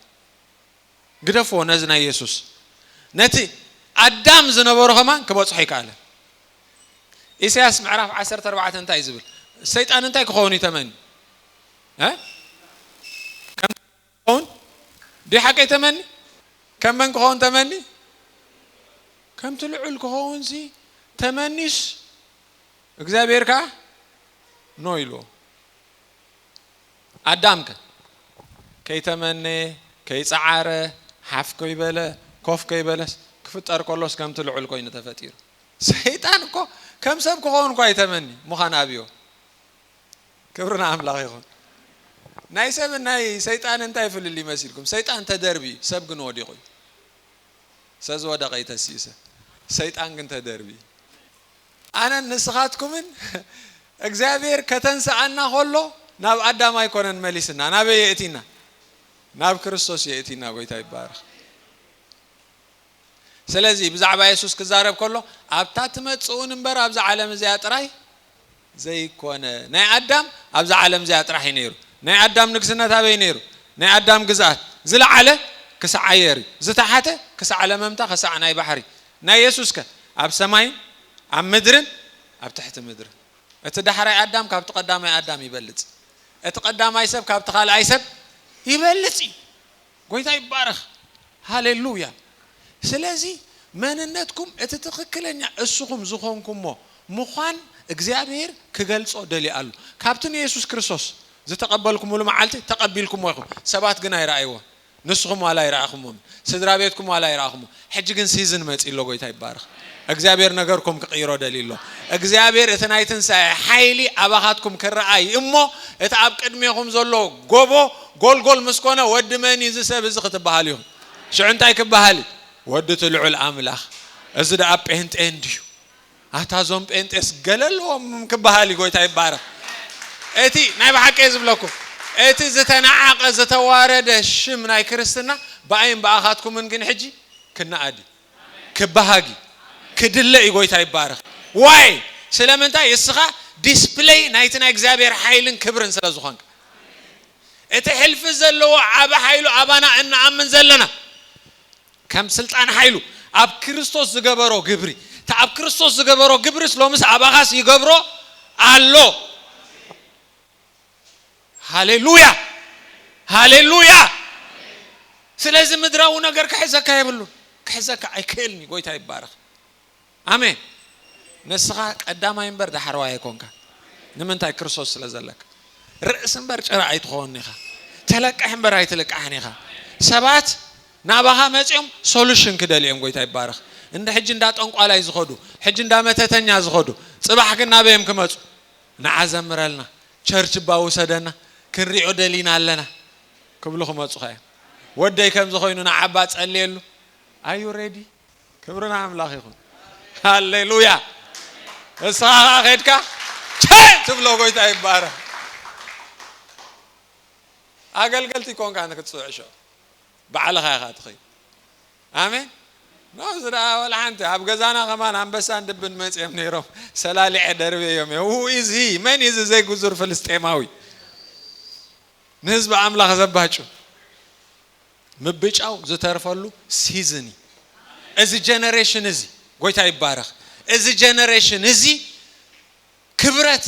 ግደፍዎ ነዚ ናይ የሱስ ነቲ ኣዳም ዝነበሮ ከማን ክበጽሖ ኣይከኣለ። ኢሳያስ ምዕራፍ ዓሰርተ ኣርባዕተ እንታይ እዩ ዝብል? ሰይጣን እንታይ ክኸውን እዩ ተመንዩ? ከም ክኸውን ድዩ ሓቀይ ተመኒ ከም መን ክኸውን ተመኒ ከምቲ ልዑል ክኸውንሲ ተመኒስ እግዚኣብሔር ከዓ ኖ ኢልዎ ኣዳምከ ከይተመነየ ከይፀዓረ ሓፍ ከይበለ ኮፍ ከይበለስ ክፍጠር ከሎስ ከምቲ ልዑል ኮይኑ ተፈጢሩ ሰይጣን እኮ ከም ሰብ ክኸውን እኳ ይተመኒ ምዃን ኣብዮ ክብሪ ንኣምላኽ ይኹን። ናይ ሰብን ናይ ሰይጣንን እንታይ ፍልልይ መሲልኩም? ሰይጣን ተደርብዩ ሰብ ግን ወዲቑ እዩ። ሰብ ዝወደቐ እዩ ተሲኡ ሰብ፣ ሰይጣን ግን ተደርብዩ። ኣነን ንስኻትኩምን እግዚኣብሔር ከተንስኣና ከሎ ናብ ኣዳም ኣይኮነን መሊስና፣ ናበይ የእቲና? ናብ ክርስቶስ የእቲና። ጎይታ ይባረኽ። ስለዚ ብዛዕባ የሱስ ክዛረብ ከሎ ኣብታ ትመጽኡን እምበር ኣብዛ ዓለም እዚኣ ጥራይ ዘይኰነ። ናይ ኣዳም ኣብዛ ዓለም እዚኣ ጥራሕ እዩ ነይሩ። ናይ ኣዳም ንግስነት ኣበይ ነይሩ? ናይ ኣዳም ግዝኣት ዝለዓለ ክሳዕ ኣየር እዩ፣ ዝተሓተ ክሳዕ ለመምታ ክሳዕ ናይ ባሕሪ። ናይ የሱስከ? ኣብ ሰማይን ኣብ ምድርን ኣብ ትሕቲ ምድርን። እቲ ዳሕራይ ኣዳም ካብቲ ቀዳማይ ኣዳም ይበልጽ። እቲ ቀዳማይ ሰብ ካብቲ ካልኣይ ሰብ ይበልጽ እዩ። ጎይታ ይባረኽ ሃሌሉያ ስለዚ መንነትኩም እቲ ትኽክለኛ እስኹም ዝኾንኩሞ ምዃን እግዚኣብሄር ክገልጾ ደልዩ ኣሉ ካብቲ ንየሱስ ክርስቶስ ዝተቀበልኩምሉ መዓልቲ ተቀቢልኩሞ ኢኹም ሰባት ግን ኣይረኣይዎን ንስኹም ዋላ ኣይረኣኹሞምን ስድራቤትኩም ዋላ ኣይረኣኹሞ ሕጂ ግን ሲዝን መጺኡ ኣሎ ጎይታ ይባረኽ እግዚኣብሔር ነገርኩም ክቅይሮ ደልዩ ኣሎ እግዚኣብሔር እቲ ናይ ትንሳኤ ሓይሊ ኣባኻትኩም ክረኣ እዩ እሞ እቲ ኣብ ቅድሜኹም ዘሎ ጎቦ ጎልጎል ምስ ኮነ ወዲ መን እዩ እዚ ሰብ እዚ ክትባሃሉ ኢኹም ሽዑ እንታይ ክባሃል እዩ ወዲ እቲ ልዑል ኣምላኽ እዚ ደኣ ጴንጤ እንድዩ ኣታ ዞም ጴንጤስ ገለ ኣለዎም ክበሃል እዩ ጎይታ ይባረኽ እቲ ናይ ብሓቂ እየ ዝብለኩም እቲ ዝተናዓቀ ዝተዋረደ ሽም ናይ ክርስትና ብኣይን ብኣኻትኩምን ግን ሕጂ ክናኣድ እዩ ክበሃግ እዩ ክድለ እዩ ጎይታ ይባረኽ ዋይ ስለምንታይ እስኻ ዲስፕለይ ናይቲ ናይ እግዚኣብሔር ሓይልን ክብርን ስለ ዝኾንካ እቲ ሕልፊ ዘለዎ ዓቢ ሓይሉ ኣባና እንኣምን ዘለና ከም ስልጣን ሓይሉ ኣብ ክርስቶስ ዝገበሮ ግብሪ እቲ ኣብ ክርስቶስ ዝገበሮ ግብርስ ሎምስ ኣባኻስ ይገብሮ ኣሎ ሃሌሉያ ሃሌሉያ ስለዚ ምድራዊ ነገር ክሕዘካ የብሉን ክሕዘካ ኣይክእልን እዩ ጎይታ ይባረኽ ኣሜን ንስኻ ቀዳማይ እምበር ዳሕረዋይ ኣይኮንካ ንምንታይ ክርስቶስ ስለ ዘለካ ርእሲ እምበር ጭራ ኣይትኾን ኢኻ ተለቅሕ እምበር ኣይትልቃሕን ኢኻ ሰባት ናባኻ መፅኦም ሶሉሽን ክደልዮም ጎይታ ይባረኽ እንደ ሕጂ እንዳ ጠንቋላይ ዝኸዱ ሕጂ እንዳ መተተኛ ዝኸዱ ፅባሕ ግን ናበዮም ክመፁ ንዓ ዘምረልና ቸርች እባ ውሰደና ክንሪኦ ደሊና ኣለና ክብሉ ክመፁኻ እዮም ወደይ ከምዚ ኮይኑ ንዓባ ፀልየሉ ኣዩ ሬዲ ክብሪ ንኣምላኽ ይኹን ሃሌሉያ እስኻ ኸዓ ኸድካ ቸ ትብሎ ጎይታ ይባረ ኣገልገልቲ ኮንካ ንክትፅዕሾ ባዕልኻ ኢኻ ትኸይድ ኣሜን ናብዚ ደኣ ወላ ሓንቲ ኣብ ገዛና ከማን ኣንበሳን ድብን መፅኦም ነይሮም ሰላሊዐ ደርበዮም እዮ ሁ ኢዝ ሂ መን ኢዝ ዘይጉዙር ፍልስጤማዊ ንህዝቢ ኣምላኽ ዘባጩ ምብጫው ዝተርፈሉ ሲዝን እዩ እዚ ጀነሬሽን እዚ ጎይታ ይባረኽ እዚ ጀነሬሽን እዚ ክብረት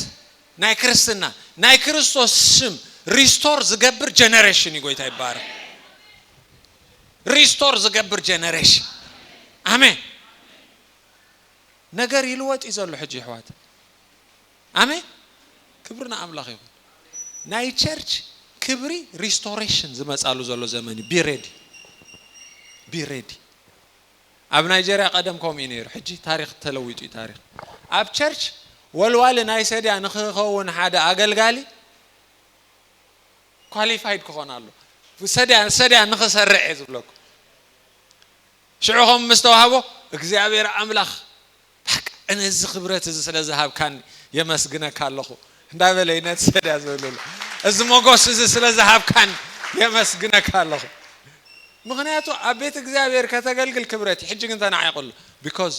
ናይ ክርስትና ናይ ክርስቶስ ስም ሪስቶር ዝገብር ጀነሬሽን እዩ ጎይታ ይባረኽ ሪስቶር ዝገብር ጀነሬሽን ኣሜን ነገር ይልወጥ እዩ ዘሎ ሕጂ ይሕዋት ኣሜን ክብሪ ንኣምላኽ ይኹን። ናይ ቸርች ክብሪ ሪስቶሬሽን ዝመጻሉ ዘሎ ዘመን እዩ ቢሬዲ ቢሬዲ ኣብ ናይጀርያ ቀደም ከምኡ እዩ ነይሩ ሕጂ ታሪኽ ተለዊጡ እዩ ታሪኽ ኣብ ቸርች ወልዋሊ ናይ ሰድያ ንክኸውን ሓደ ኣገልጋሊ ኳሊፋይድ ክኾን ኣሎ ሰድያ ሰድያ ንክሰርዕ እየ ዝብለኩ ሽዑ ከም ምስተዋህቦ እግዚኣብሔር ኣምላኽ በቃ ነዚ ክብረት እዚ ስለ ዝሃብካኒ የመስግነካ ኣለኹ እንዳ በለ ይነድሰ ድያ ዝብልሉ እዚ ሞጎስ እዚ ስለ ዝሃብካኒ የመስግነካ ኣለኹ ምክንያቱ ኣብ ቤት እግዚኣብሔር ከተገልግል ክብረት እዩ ሕጂ ግን ተናዒቅሉ ቢኮዝ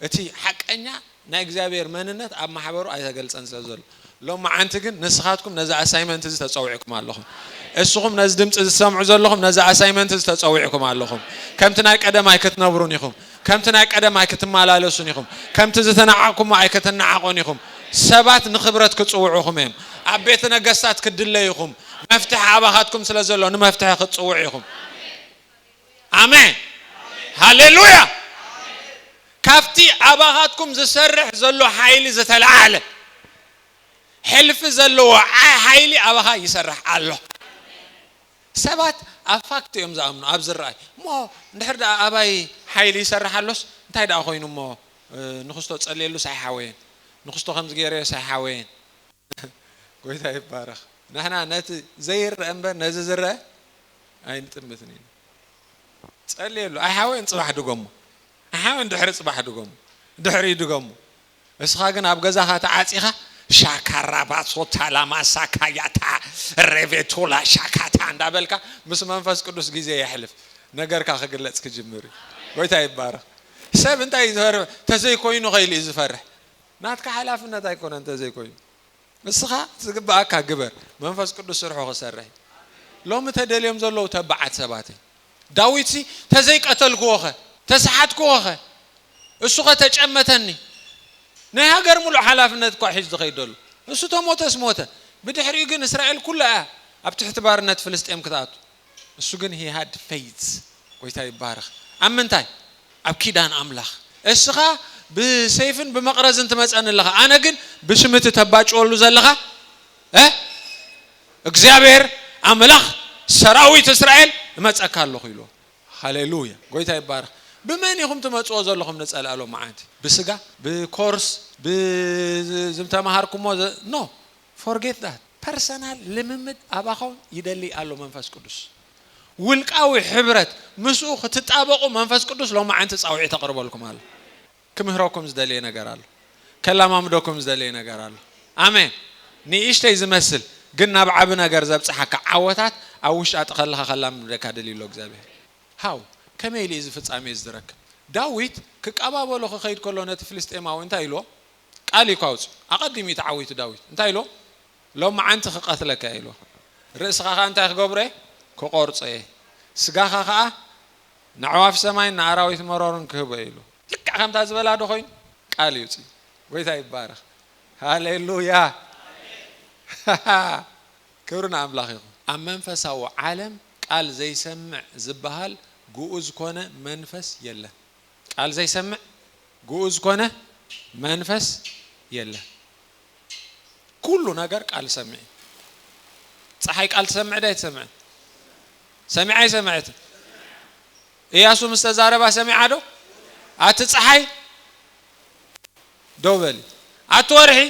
እቲ ሓቀኛ ናይ እግዚኣብሔር መንነት ኣብ ማሕበሩ ኣይተገልጸን ስለ ዘሎ ሎምዓንቲ ግን ንስኻትኩም ነዚ ኣሳይመንት እዚ ተጸዊዕኩም ኣለኹም። እስኹም ነዚ ድምጺ እዚ ትሰምዑ ዘለኹም ነዚ ኣሳይመንት እዚ ተጸዊዕኩም ኣለኹም። ከምቲ ናይ ቀደም ኣይክትነብሩን ኢኹም። ከምቲ ናይ ቀደም ኣይክትመላለሱን ኢኹም። ከምቲ ዝተናዓቕኩሞ ኣይክትናዓቑን ኢኹም። ሰባት ንኽብረት ክጽውዑኹም እዮም። ኣብ ቤተ ነገስታት ክትድለዩ ኢኹም። መፍትሒ ኣባኻትኩም ስለ ዘሎ ንመፍትሒ ክትጽውዑ ኢኹም። ኣሜን ሃሌሉያ ካብቲ ኣባኻትኩም ዝሰርሕ ዘሎ ሓይሊ ዝተለዓለ ሕልፊ ዘለዎ ሓይሊ ኣባኻ ይሰርሕ ኣሎ ሰባት ኣብ ፋክት እዮም ዝኣምኑ ኣብ ዝረኣይ እሞ እንድሕር ደኣ ኣባይ ሓይሊ ይሰርሕ ኣሎስ እንታይ ደኣ ኮይኑ እሞ ንክስቶ ጸልየሉ ሳይሓወየን ንክስቶ ከምዚ ገይረዮ ሳይሓወየን ጎይታ ይባረኽ ንሕና ነቲ ዘይረአ እምበር ነዚ ዝረአ ኣይንጥምትን ኢና ጸልየሉ ኣይሓወይን ጽባሕ ድገሞ ኣይሓወይን ድሕሪ ጽባሕ ድገሞ ድሕሪ ድገሞ እስኻ ግን ኣብ ገዛኻ ተዓጺኻ ሻካራ ባሶታ ላማሳ ካያታ ሬቬቶላ ሻካታ እንዳበልካ ምስ መንፈስ ቅዱስ ግዜ የሕልፍ ነገርካ ክግለጽ ክጅምር እዩ ጎይታ ይባረኽ ሰብ እንታይ እዩ ዝፈርህ ተዘይኮይኑ ከይሉ እዩ ዝፈርሕ ናትካ ሓላፍነት ኣይኮነ እንተዘይኮይኑ ንስኻ ዝግብኣካ ግበር መንፈስ ቅዱስ ስርሑ ክሰርሕ እዩ። ሎሚ ተደልዮም ዘለዉ ተባዓት ሰባት እዮም። ዳዊትሲ ተዘይቀተልክዎኸ? ተሰሓትክዎኸ? እሱኸ ተጨመተኒ? ናይ ሃገር ምሉእ ሓላፍነት እኳ ሒዙ ዝኸይድ ዘሎ እሱ ተሞተስ ሞተ ብድሕሪኡ ግን እስራኤል ኩላ እያ ኣብ ትሕቲ ባርነት ፍልስጤም ክትኣቱ። እሱ ግን he had faith ጎይታ ይባረክ ኣብ ምንታይ ኣብ ኪዳን ኣምላክ እስኻ ብሰይፍን ብመቅረዝን ትመጸኒ ኣለኻ ኣነ ግን ብስም እቲ ተባጭወሉ ዘለኻ እ እግዚኣብሔር ኣምላኽ ሰራዊት እስራኤል እመጸካ ኣለኹ ኢልዎ ሃሌሉያ ጎይታ ይባረክ ብመን ኢኹም ትመጽዎ ዘለኹም ንጸላእሎ መዓንቲ ብስጋ ብኮርስ ብዝተማሃርኩሞ ኖ Forget that ፐርሰናል ልምምድ ኣባኾም ይደሊ ኣሎ መንፈስ ቅዱስ ውልቃዊ ሕብረት ምስኡ ክትጣበቁ መንፈስ ቅዱስ ሎማዓንቲ ጻውዒት ኣቅርበልኩም ኣሎ ክምህረኩም ዝደልየ ነገር ኣሎ ከላማምደኩም ዝደልየ ነገር ኣሎ ኣሜን ንእሽተይ ዝመስል ግን ናብ ዓቢ ነገር ዘብጽሓካ ዓወታት ኣብ ውሽጣጢ ከለኻ ከላምምደካ ደልዩ ኣሎ እግዚኣብሄር ሃው ከመይ ኢሉ እዩ እዚ ፍጻሜ እዚ ዝረክብ ዳዊት ክቃባበሎ ክኸይድ ከሎ ነቲ ፍልስጤማዊ እንታይ ኢልዎ ቃል እኳ ኣውጽኡ። ኣቐዲሙ እዩ ተዓዊቱ ዳዊት። እንታይ ኢልዎ? ሎምዓንቲ ክቐትለካ እየ ኢልዎ። ርእስኻ ኸኣ እንታይ ክገብሮ እየ? ክቖርጾ እየ። ስጋኻ ኸኣ ንኣዕዋፍ ሰማይን ንኣራዊት መሮርን ክህቦ እየ ኢሉ። ልክዕ ከምታ ዝበላዶ ኮይኑ ቃል ይውጽእ እዩ። ጎይታ ይባረኽ። ሃሌሉያ! ክብሪ ንኣምላኽ ይኹን። ኣብ መንፈሳዊ ዓለም ቃል ዘይሰምዕ ዝበሃል ግኡዝ ኮነ መንፈስ የለን። ቃል ዘይሰምዕ ግኡዝ ኮነ መንፈስ የለን ኩሉ ነገር ቃል ሰምዕ እዩ ፀሓይ ቃል ትሰምዕ ዶ ኣይትሰምዕን ሰሚዓ ኣይሰምዐትን እያሱ ምስ ተዛረባ ሰሚዓ ዶ ኣቲ ፀሓይ ደው በሊ ኣቲ ወርሒ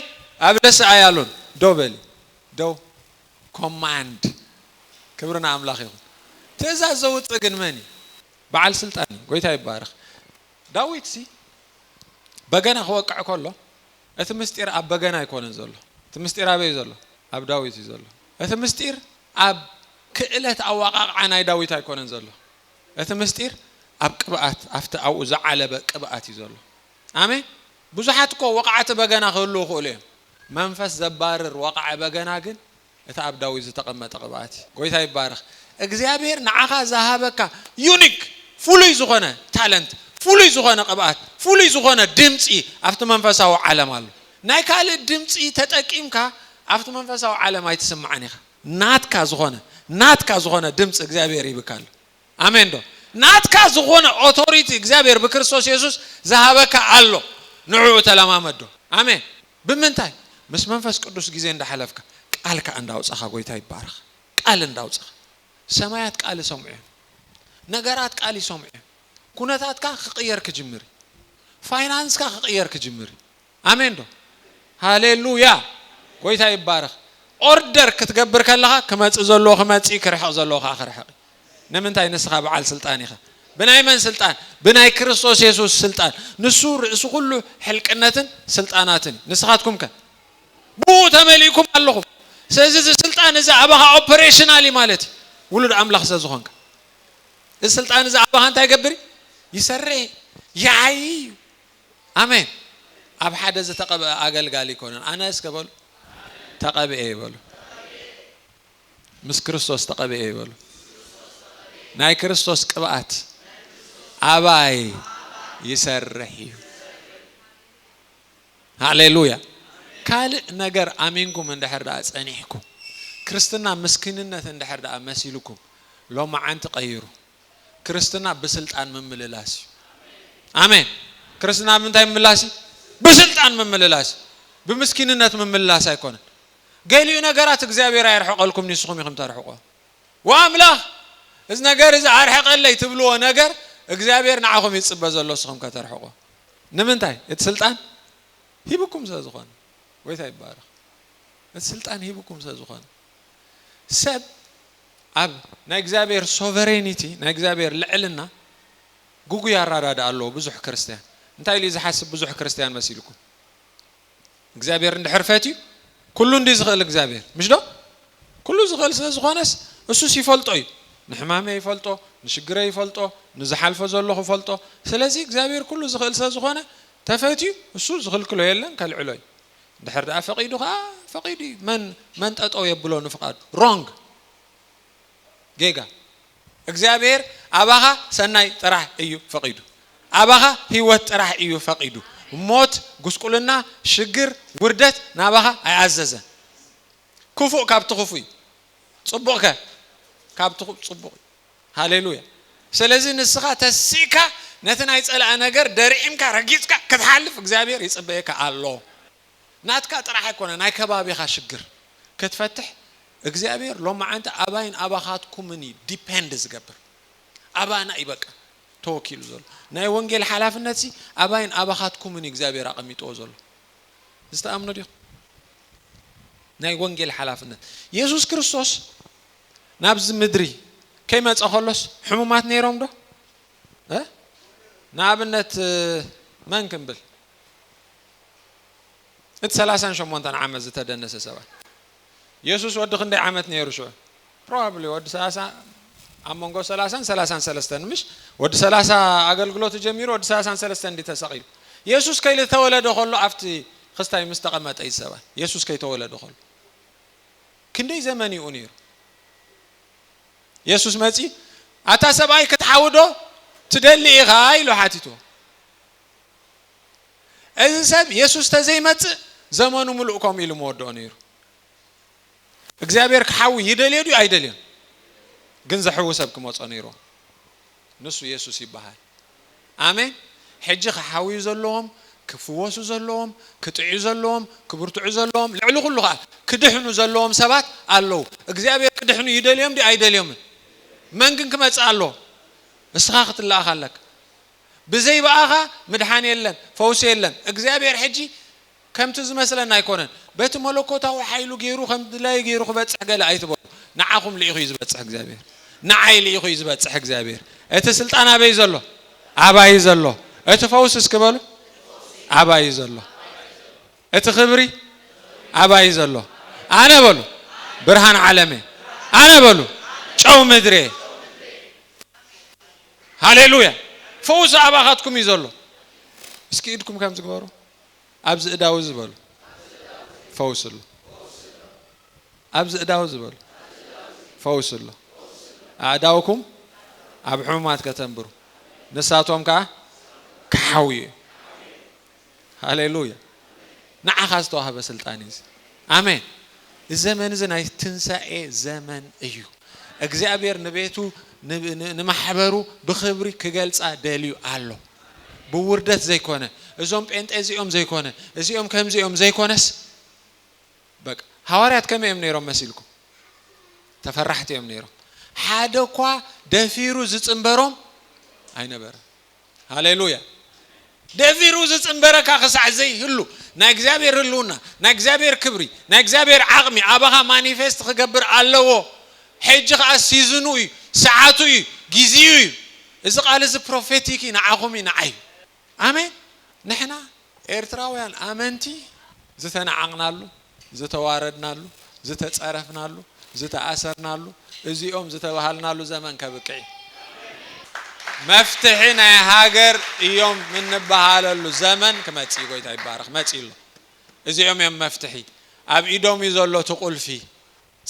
ኣብ ደስ ኣያሉን ደው በሊ ደው ኮማንድ ክብሪ ንኣምላኽ ይኹን ትእዛዝ ዘውፅእ ግን መን እዩ በዓል ስልጣን እዩ ጎይታ ይባረኽ። ዳዊትሲ በገና ክወቅዕ ከሎ እቲ ምስጢር ኣብ በገና ኣይኮነን ዘሎ እቲ ምስጢር ኣበይ እዩ ዘሎ ኣብ ዳዊት እዩ ዘሎ እቲ ምስጢር ኣብ ክእለት ኣዋቃቅዓ ናይ ዳዊት ኣይኮነን ዘሎ እቲ ምስጢር ኣብ ቅብኣት ኣብቲ ኣብኡ ዝዓለበ ቅብኣት እዩ ዘሎ ኣሜን ብዙሓት እኮ ወቃዕቲ በገና ክህልው ይኽእሉ እዮም መንፈስ ዘባርር ወቃዒ በገና ግን እቲ ኣብ ዳዊት ዝተቐመጠ ቅብኣት እዩ። ጎይታ ይባረኽ። እግዚኣብሄር ንዓኻ ዝሃበካ ዩኒክ ፍሉይ ዝኾነ ታለንት፣ ፍሉይ ዝኾነ ቅብኣት፣ ፍሉይ ዝኾነ ድምጺ ኣብቲ መንፈሳዊ ዓለም ኣሎ። ናይ ካልእ ድምጺ ተጠቂምካ ኣብቲ መንፈሳዊ ዓለም ኣይትስማዕን ኢኻ። ናትካ ዝኾነ ናትካ ዝኾነ ድምጺ እግዚኣብሄር ሂብካ ኣሎ። ኣሜን ዶ ናትካ ዝኾነ ኦቶሪቲ እግዚኣብሔር ብክርስቶስ የሱስ ዝሃበካ ኣሎ ንዕዑ ተለማመዶ ኣሜን ብምንታይ ምስ መንፈስ ቅዱስ ግዜ እንዳሕለፍካ ቃል ከኣ እንዳውጻኻ ጎይታ ይባረኽ ቃል እንዳውጻኻ ሰማያት ቃል ይሰምዑ እዮም ነገራት ቃል ይሰምዑ እዮም ኩነታትካ ክቅየር ክጅምር እዩ ፋይናንስካ ክቅየር ክጅምር እዩ ኣሜን ዶ ሃሌሉያ ጎይታ ይባረኽ ኦርደር ክትገብር ከለኻ ክመጽእ ዘለዎ ክመጽእ እዩ ክርሕቕ ዘለዎ ከዓ ክርሕቕ እዩ ንምንታይ ንስኻ በዓል ስልጣን ኢኻ ብናይ መን ስልጣን ብናይ ክርስቶስ የሱስ ስልጣን ንሱ ርእሲ ኩሉ ሕልቅነትን ስልጣናትን እዩ ንስኻትኩም ከ ብኡ ተመሊእኩም ኣለኹም ስለዚ እዚ ስልጣን እዚ ኣባኻ ኦፐሬሽናል እዩ ማለት እዩ ውሉድ ኣምላኽ ስለዝኾንካ እዚ ስልጣን እዚ ኣባኻ እንታይ ይገብር ይሰርሕ ይዓይ እዩ ኣሜን ኣብ ሓደ ዝተቐብኣ ኣገልጋሊ ኣይኮነን ኣነ እስከ በሉ ተቐብኤ ይበሉ ምስ ክርስቶስ ተቐብኤ ይበሉ ናይ ክርስቶስ ቅብኣት ኣባይ ይሰርሕ እዩ ሃሌሉያ ካልእ ነገር ኣሚንኩም እንድሕር ደኣ ጸኒሕኩም ክርስትና ምስኪንነት እንድሕር ደኣ መሲልኩም ሎማዓንቲ ቀይሩ ክርስትና ብስልጣን ምምልላስ እዩ ኣሜን ክርስትና ብምንታይ ምምላስ እዩ ብስልጣን ምምልላስ እዩ ብምስኪንነት ምምልላስ ኣይኮነን ገሊኡ ነገራት እግዚኣብሔር ኣየርሕቀልኩም ንስኹም ኢኹም ተርሕቆ ወኣምላኽ እዚ ነገር እዚ ኣርሕቀለይ ትብልዎ ነገር እግዚኣብሔር ንዓኹም ይጽበ ዘሎ ስኹም ከተርሕቆ ንምንታይ እቲ ስልጣን ሂብኩም ስለዝኾነ ጎይታ ይባረኽ እቲ ስልጣን ሂብኩም ስለዝኾነ ሰብ ኣብ ናይ እግዚኣብሔር ሶቨሬኒቲ ናይ እግዚኣብሔር ልዕልና ግጉይ ኣራዳድኣ ኣለዎ ብዙሕ ክርስትያን እንታይ ኢሉ እዩ ዝሓስብ ብዙሕ ክርስትያን መሲልኩም እግዚኣብሔር እንድሕር ፈትዩ ኩሉ እንዲ ዝኽእል እግዚኣብሔር ምሽ ዶ ኩሉ ዝኽእል ስለ ዝኾነስ እሱስ ይፈልጦ እዩ ንሕማመ ይፈልጦ ንሽግረ ይፈልጦ ንዝሓልፎ ዘለኹ ይፈልጦ ስለዚ እግዚኣብሔር ኩሉ ዝኽእል ስለ ዝኾነ ተፈትዩ እሱ ዝኽልክሎ የለን ከልዕሎ እዩ ድሕር ድኣ ፈቂዱ ከኣ ፈቂዱ እዩ መን መን ጠጠው የብሎ ንፍቃዱ ሮንግ ጌጋ እግዚኣብሔር ኣባኻ ሰናይ ጥራሕ እዩ ፈቂዱ ኣባኻ ህይወት ጥራሕ እዩ ፈቂዱ ሞት ጉስቁልና ሽግር ውርደት ናባኻ ኣይኣዘዘን ክፉእ ካብቲ ክፉይ ጽቡቅ ከ ካብቲ ጽቡቅ እዩ ሃሌሉያ ስለዚ ንስኻ ተሲእካ ነቲ ናይ ጸላኢ ነገር ደርዒምካ ረጊጽካ ክትሓልፍ እግዚኣብሔር ይጽበየካ ኣሎ ናትካ ጥራሕ ኣይኮነ ናይ ከባቢኻ ሽግር ክትፈትሕ እግዚኣብሔር ሎማዓንቲ ኣባይን ኣባኻትኩምን እዩ ዲፐንድ ዝገብር ኣባና እዩ በቃ ተወኪሉ ዘሎ ናይ ወንጌል ሓላፍነት ሲ ኣባይን ኣባኻትኩምን እዩ እግዚኣብሔር ኣቐሚጥዎ ዘሎ ዝተኣምኑ ዲኹም ናይ ወንጌል ሓላፍነት የሱስ ክርስቶስ ናብዚ ምድሪ ከይመጸ ከሎስ ሕሙማት ነይሮም ዶ? እ ንኣብነት መን ክንብል? እቲ ሰላሳን ሸሞንተን ዓመት ዝተደነሰ ሰብኣይ የሱስ ወዲ ክንደይ ዓመት ነይሩ ሽዑ? ፕሮባብሊ ወዲ ሰላሳ ኣብ መንጎ ሰላሳን ሰላሳን ሰለስተን ምሽ ወዲ ሰላሳ ኣገልግሎቱ ጀሚሩ ወዲ ሰላሳን ሰለስተን እንዲ ተሰቒሉ የሱስ ከይተወለደ ከሎ ኣብቲ ክስታይ ምስ ተቐመጠ እዩ ሰብኣይ የሱስ ከይተወለደ ከሎ ክንደይ ዘመን ኢኡ ነይሩ የሱስ መጺ ኣታ ሰብኣይ ክትሓውዶ ትደሊ ኢኻ ኢሉ ሓቲትዎ እዚ ሰብ የሱስ ተዘይመጽእ ዘመኑ ምሉእ ከምኡ ኢሉ መወድኦ ነይሩ እግዚኣብሔር ክሓዊ ይደልዮ ድዩ ኣይደልዮን ግን ዘሕዊ ሰብ ክመጾ ነይሩ ንሱ የሱስ ይበሃል ኣሜን ሕጂ ክሓውዩ ዘለዎም ክፍወሱ ዘለዎም ክጥዕዩ ዘለዎም ክብርትዑ ዘለዎም ልዕሊ ኩሉ ከኣ ክድሕኑ ዘለዎም ሰባት ኣለዉ እግዚኣብሄር ክድሕኑ ይደልዮም ድዩ ኣይደልዮምን መን ግን ክመጽእ ኣለዎ እስኻ ክትለኣኽ ኣለካ ብዘይ በኣኻ ምድሓን የለን ፈውሲ የለን እግዚኣብሄር ሕጂ ከምቲ ዝመስለና ኣይኮነን በቲ መለኮታዊ ሓይሉ ገይሩ ከም ድላዩ ገይሩ ክበጽሕ ገለ ኣይትበሉ ንዓኹም ልኢኹ እዩ ዝበጽሕ እግዚኣብሔር ንዓይ ልኢኹ እዩ ዝበጽሕ እግዚኣብሔር እቲ ስልጣን ኣበይ ዘሎ ኣባይ ዘሎ እቲ ፈውስ እስኪ በሉ ኣባይ ዘሎ እቲ ክብሪ ኣባይ ዘሎ ኣነ በሉ ብርሃን ዓለመ ኣነ በሉ ጨው ምድሬ ሃሌሉያ ፈውስ ኣባኻትኩም እዩ ዘሎ እስኪ ኢድኩም ከም ዝግበሩ ኣብዚ እዳው እዚ በሉ ፈውሲ ኣሎ ኣብዚ እዳው እዚ በሉ ፈውሲ ኣሎ ኣእዳውኩም ኣብ ሕሙማት ከተንብሩ ንሳቶም ከዓ ክሓውዩ እዩ ሃሌሉያ ንዓኻ ዝተዋህበ ስልጣን እዩ ኣሜን እዚ ዘመን እዚ ናይ ትንሳኤ ዘመን እዩ እግዚኣብሔር ንቤቱ ንማሕበሩ ብክብሪ ክገልፃ ደልዩ ኣሎ ብውርደት ዘይኮነ እዞም ጴንጤ እዚኦም ዘይኮነ እዚኦም ከምዚ እዮም ዘይኮነስ በቃ ሃዋርያት ከመይ እዮም ነይሮም መሲልኩም ተፈራሕቲ እዮም ነይሮም ሓደ እኳ ደፊሩ ዝፅንበሮም ኣይነበረ ሃሌሉያ ደፊሩ ዝፅንበረካ ክሳዕ ዘይህሉ ናይ እግዚኣብሔር ህልውና ናይ እግዚኣብሔር ክብሪ ናይ እግዚኣብሔር ዓቕሚ ኣባኻ ማኒፌስት ክገብር ኣለዎ ሕጂ ከዓ ሲዝኑ እዩ ሰዓቱ እዩ ጊዜኡ እዩ እዚ ቃል እዚ ፕሮፌቲክ እዩ ንዓኹም እዩ ንዓይ እዩ ኣሜን ንሕና ኤርትራውያን ኣመንቲ ዝተናዓቅናሉ ዝተዋረድናሉ ዝተጸረፍናሉ ዝተኣሰርናሉ እዚኦም ዝተባሃልናሉ ዘመን ከብቅዕ እዩ መፍትሒ ናይ ሃገር እዮም እንበሃለሉ ዘመን ክመጽእ እዩ ጎይታ ይባረኽ መጽእ ኣሎ እዚኦም እዮም መፍትሒ ኣብ ኢዶም እዩ ዘሎ እቲ ቁልፊ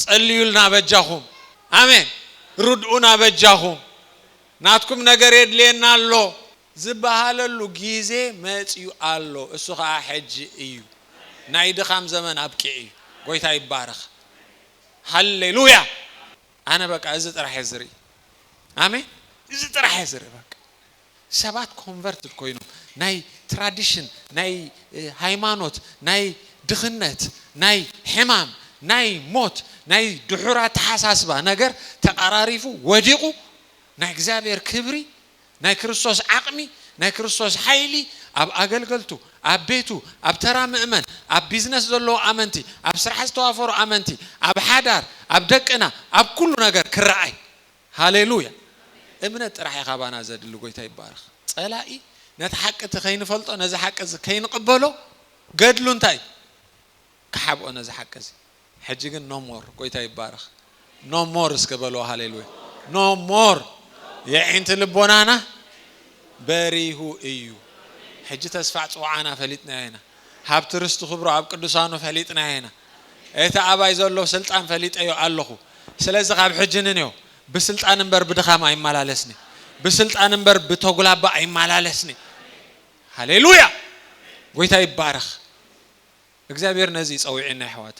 ጸልዩልና በጃኹም ኣሜን ርድኡና በጃኹም ናትኩም ነገር የድልየና ኣሎ ዝብሃለሉ ግዜ መጽዩ ኣሎ እሱ ከኣ ሕጂ እዩ ናይ ድኻም ዘመን ኣብቂዑ እዩ ጎይታ ይባረኽ ሃሌሉያ ኣነ በቃ እዚ ጥራሕ እየ ዝርኢ ኣሜን እዚ ጥራሕ እየ ዝርኢ በቃ። ሰባት ኮንቨርትድ ኮይኖም ናይ ትራዲሽን ናይ ሃይማኖት ናይ ድኽነት ናይ ሕማም ናይ ሞት ናይ ድሑር ኣተሓሳስባ ነገር ተቓራሪፉ ወዲቑ ናይ እግዚኣብሔር ክብሪ ናይ ክርስቶስ ዓቕሚ ናይ ክርስቶስ ሓይሊ ኣብ ኣገልገልቱ ኣብ ቤቱ ኣብ ተራ ምእመን ኣብ ቢዝነስ ዘለዉ ኣመንቲ ኣብ ስራሕ ዝተዋፈሩ ኣመንቲ ኣብ ሓዳር ኣብ ደቅና ኣብ ኩሉ ነገር ክረኣይ ሃሌሉያ እምነት ጥራሕ እዩ ካባና ዘድሊ ጎይታ ይባረኽ ጸላኢ ነቲ ሓቂ እቲ ከይንፈልጦ ነዚ ሓቂ እዚ ከይንቅበሎ ገድሉ እንታይ እዩ ክሓብኦ ነዚ ሓቂ እዚ ሕጂ ግን no more ጎይታ ይባረኽ no more እስከ በልዎ ሃሌሉያ no more የዒንቲ ልቦናና በሪሁ እዩ ሕጂ ተስፋ ጽውዓና ፈሊጥናዮ ኢና ሃብቲ ርስቲ ክብሩ ኣብ ቅዱሳኑ ፈሊጥናዮ ኢና እቲ ኣባይ ዘሎ ስልጣን ፈሊጠዮ ኣለኹ ስለዚ ካብ ሕጂ ንንዮ ብስልጣን እምበር ብድኻም ኣይማላለስኒ ብስልጣን እምበር ብቶጉላባ ኣይማላለስኒ ሃሌሉያ ጎይታ ይባረኽ እግዚኣብሔር ነዚ እዩ ጸዊዒና የሕዋት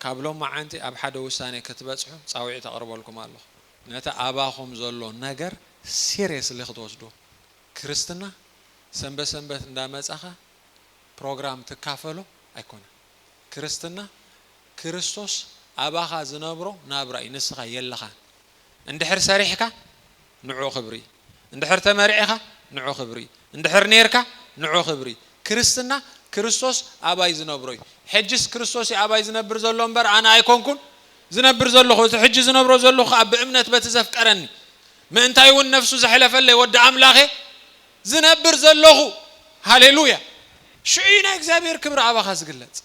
ካብ ሎማዓንቲ ኣብ ሓደ ውሳኔ ክትበጽሑ ጻዊዒት ኣቅርበልኩም ኣለኹ ነቲ ኣባኹም ዘሎ ነገር ሲሬስሊ ክትወስድዎ ክርስትና ሰንበት ሰንበት እንዳመጻኻ ፕሮግራም ትካፈሎ ኣይኮነን። ክርስትና ክርስቶስ ኣባኻ ዝነብሮ ናብራ እዩ ንስኻ የለኻን እንድሕር ሰሪሕካ ንዑ ክብሪ እንድሕር ተመርዒኻ ንዑ ክብሪ እንድሕር ኔርካ ንዑ ክብሪ ክርስትና ክርስቶስ ኣባይ ዝነብሮ እዩ ሕጅስ ክርስቶስ እዩ ኣባይ ዝነብር ዘሎ እምበር ኣነ ኣይኮንኩን ዝነብር ዘለኹ እቲ ሕጂ ዝነብሮ ዘለኹ ከኣ ብእምነት በቲ ዘፍቀረኒ ምእንታይውን ነፍሱ ዘሕለፈለይ ወዲ ኣምላኽ እየ ዝነብር ዘሎኹ ሃሌሉያ ሽዑ እዩ ናይ እግዚኣብሔር ክብሪ ኣባኻ ዝግለጽ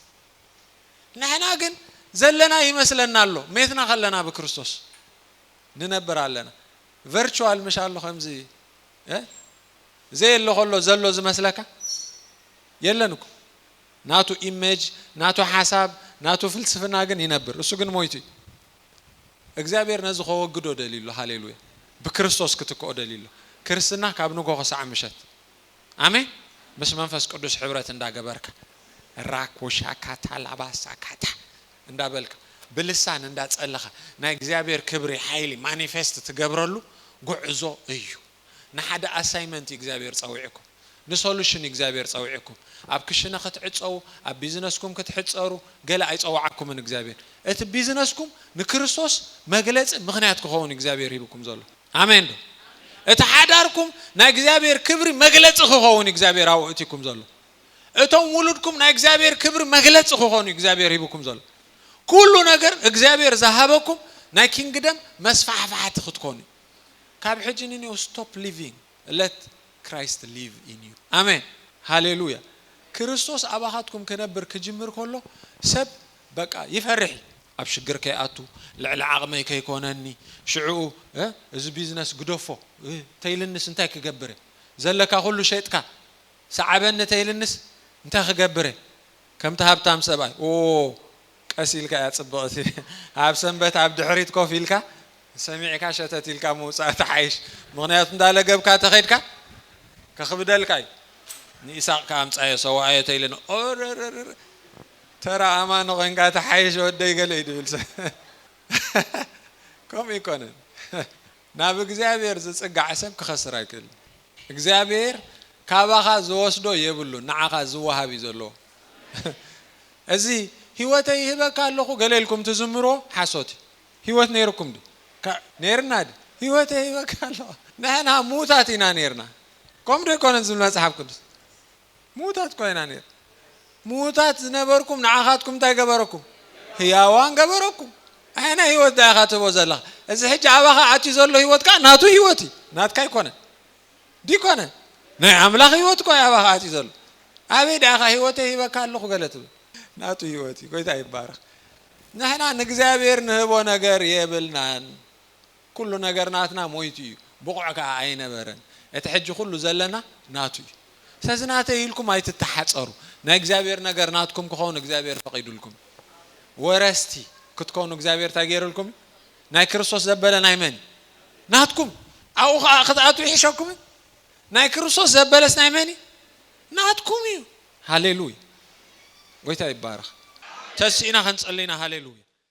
ንሕና ግን ዘለና ይመስለና ኣሎ ሜትና ከለና ብክርስቶስ ንነብር ኣለና ቨርቹዋል ምሽ ኣሎ ከምዚ ዘየሎ ከሎ ዘሎ ዝመስለካ የለን እኮ ናቱ ኢሜጅ ናቱ ሓሳብ ናቱ ፍልስፍና ግን ይነብር እሱ ግን ሞይቱ እዩ እግዚኣብሔር ነዚ ከወግዶ ደልዩ ኣሎ ሃሌሉያ ብክርስቶስ ክትክኦ ደልዩ ኣሎ ክርስትና ካብ ንግሆ ክሳዕ ምሸት ኣሜን ምስ መንፈስ ቅዱስ ሕብረት እንዳ ገበርካ ራኮሻካታ ላባሳካታ እንዳ በልካ ብልሳን እንዳ ጸለኻ ናይ እግዚኣብሔር ክብሪ ሓይሊ ማኒፌስት ትገብረሉ ጉዕዞ እዩ። ንሓደ ኣሳይመንት እዩ እግዚኣብሔር ጸዊዕኩም ንሶሉሽን እዩ እግዚኣብሔር ጸዊዕኩም ኣብ ክሽነ ክትዕጸዉ ኣብ ቢዝነስኩም ክትሕጸሩ ገለ ኣይጸወዓኩምን እግዚኣብሔር እቲ ቢዝነስኩም ንክርስቶስ መግለጺ ምኽንያት ክኸውን እዩ እግዚኣብሔር ሂብኩም ዘሎ ኣሜን ዶ እቲ ሓዳርኩም ናይ እግዚኣብሔር ክብሪ መግለጺ ክኸውን እዩ እግዚኣብሔር ኣብኡ እትኩም ዘሎ እቶም ውሉድኩም ናይ እግዚኣብሔር ክብሪ መግለጺ ክኾኑ እዩ እግዚኣብሔር ሂብኩም ዘሎ ኩሉ ነገር እግዚኣብሔር ዝሃበኩም ናይ ኪንግደም መስፋሕፋሕቲ ክትኮኑ እዩ ካብ ሕጂ ንንየው ስቶፕ ሊቪንግ ለት ክራይስት ሊቭ ኢን ዩ ኣሜን ሃሌሉያ ክርስቶስ ኣባኻትኩም ክነብር ክጅምር ከሎ ሰብ በቃ ይፈርሕ እዩ ኣብ ሽግር ከይኣቱ ልዕሊ ዓቕመይ ከይኮነኒ ሽዕኡ እዚ ቢዝነስ ግደፎ ተይልንስ እንታይ ክገብር እየ ዘለካ ኩሉ ሸጥካ ሰዓበኒ ተይልንስ እንታይ ክገብር እየ ከምቲ ሃብታም ሰብኣይ ኦዎ ቀስ ኢልካ እያ ጽብቕቲ ኣብ ሰንበት ኣብ ድሕሪት ኮፍ ኢልካ ሰሚዕካ ሸተት ኢልካ ምውጻእ ትሓይሽ ምኽንያቱ እንዳ ለገብካ ተኸድካ ከኽብደልካ እዩ ንኢሳቕ ከኣ ኣምጻዮ ሰዋኣዮ ተኢለኒ ኦረረረረ ተራ ኣማኒ ኮንካ ትሓይሽ ወደይ ገለ እዩ ድብል ሰብ ከምኡ ኣይኮነን ናብ እግዚኣብሔር ዝጽጋዕ ሰብ ክኸስር ኣይክእልን እግዚኣብሔር ካባኻ ዝወስዶ የብሉን ንዓኻ ዝወሃብ እዩ ዘለዎ እዚ ህይወተይ ይህበካ ኣለኹ ገለ ኢልኩም ትዝምርዎ ሓሶት እዩ ህይወት ነይሩኩም ድዩ ነይርና ድዩ ህይወተይ ይህበካ ኣለኹ ንሕና ምዉታት ኢና ነይርና ከምኡ ዶ ኣይኮነን ዝብል መጽሓፍ ቅዱስ ምዉታት እኳ ኢና ነይርና። ምዉታት ዝነበርኩም ንዓኻትኩም እንታይ ገበረኩም? ህያዋን ገበረኩም። ኣየናይ ህይወት ድኣ ኢኻ ትህቦ ዘለኻ? እዚ ሕጂ ኣባኻ ኣትዩ ዘሎ ህይወት ከኣ ናቱ ህይወት እዩ፣ ናትካ ኣይኮነን። ዲኮነ? ናይ ኣምላኽ ህይወት እኳ እዩ ኣባኻ ኣትዩ ዘሎ። ኣበይ ድኣ ኢኻ ህይወተይ ሂበካ ኣለኹ ገለ ትብል? ናቱ ህይወት እዩ። ጎይታ ይባረኽ። ንሕና ንእግዚኣብሄር ንህቦ ነገር የብልናን። ኩሉ ነገር ናትና ሞይቱ እዩ ብቑዕ ከኣ ኣይነበረን እቲ ሕጂ ኩሉ ዘለና ናቱ እዩ ስለዚ ናተይ ኢልኩም ኣይትተሓጸሩ ናይ እግዚኣብሔር ነገር ናትኩም ክኸውን እግዚኣብሔር ፈቒዱልኩም እዩ ወረስቲ ክትኮኑ እግዚኣብሔር እንታይ ገይርልኩም እዩ ናይ ክርስቶስ ዘበለ ናይ መን እዩ ናትኩም ኣብኡ ከኣ ክትኣትዉ ይሕሸኩም እዩ ናይ ክርስቶስ ዘበለስ ናይ መን እዩ ናትኩም እዩ ሃሌሉያ ጎይታ ይባረኽ ተሲእና ክንጽሊ ኢና ሃሌሉያ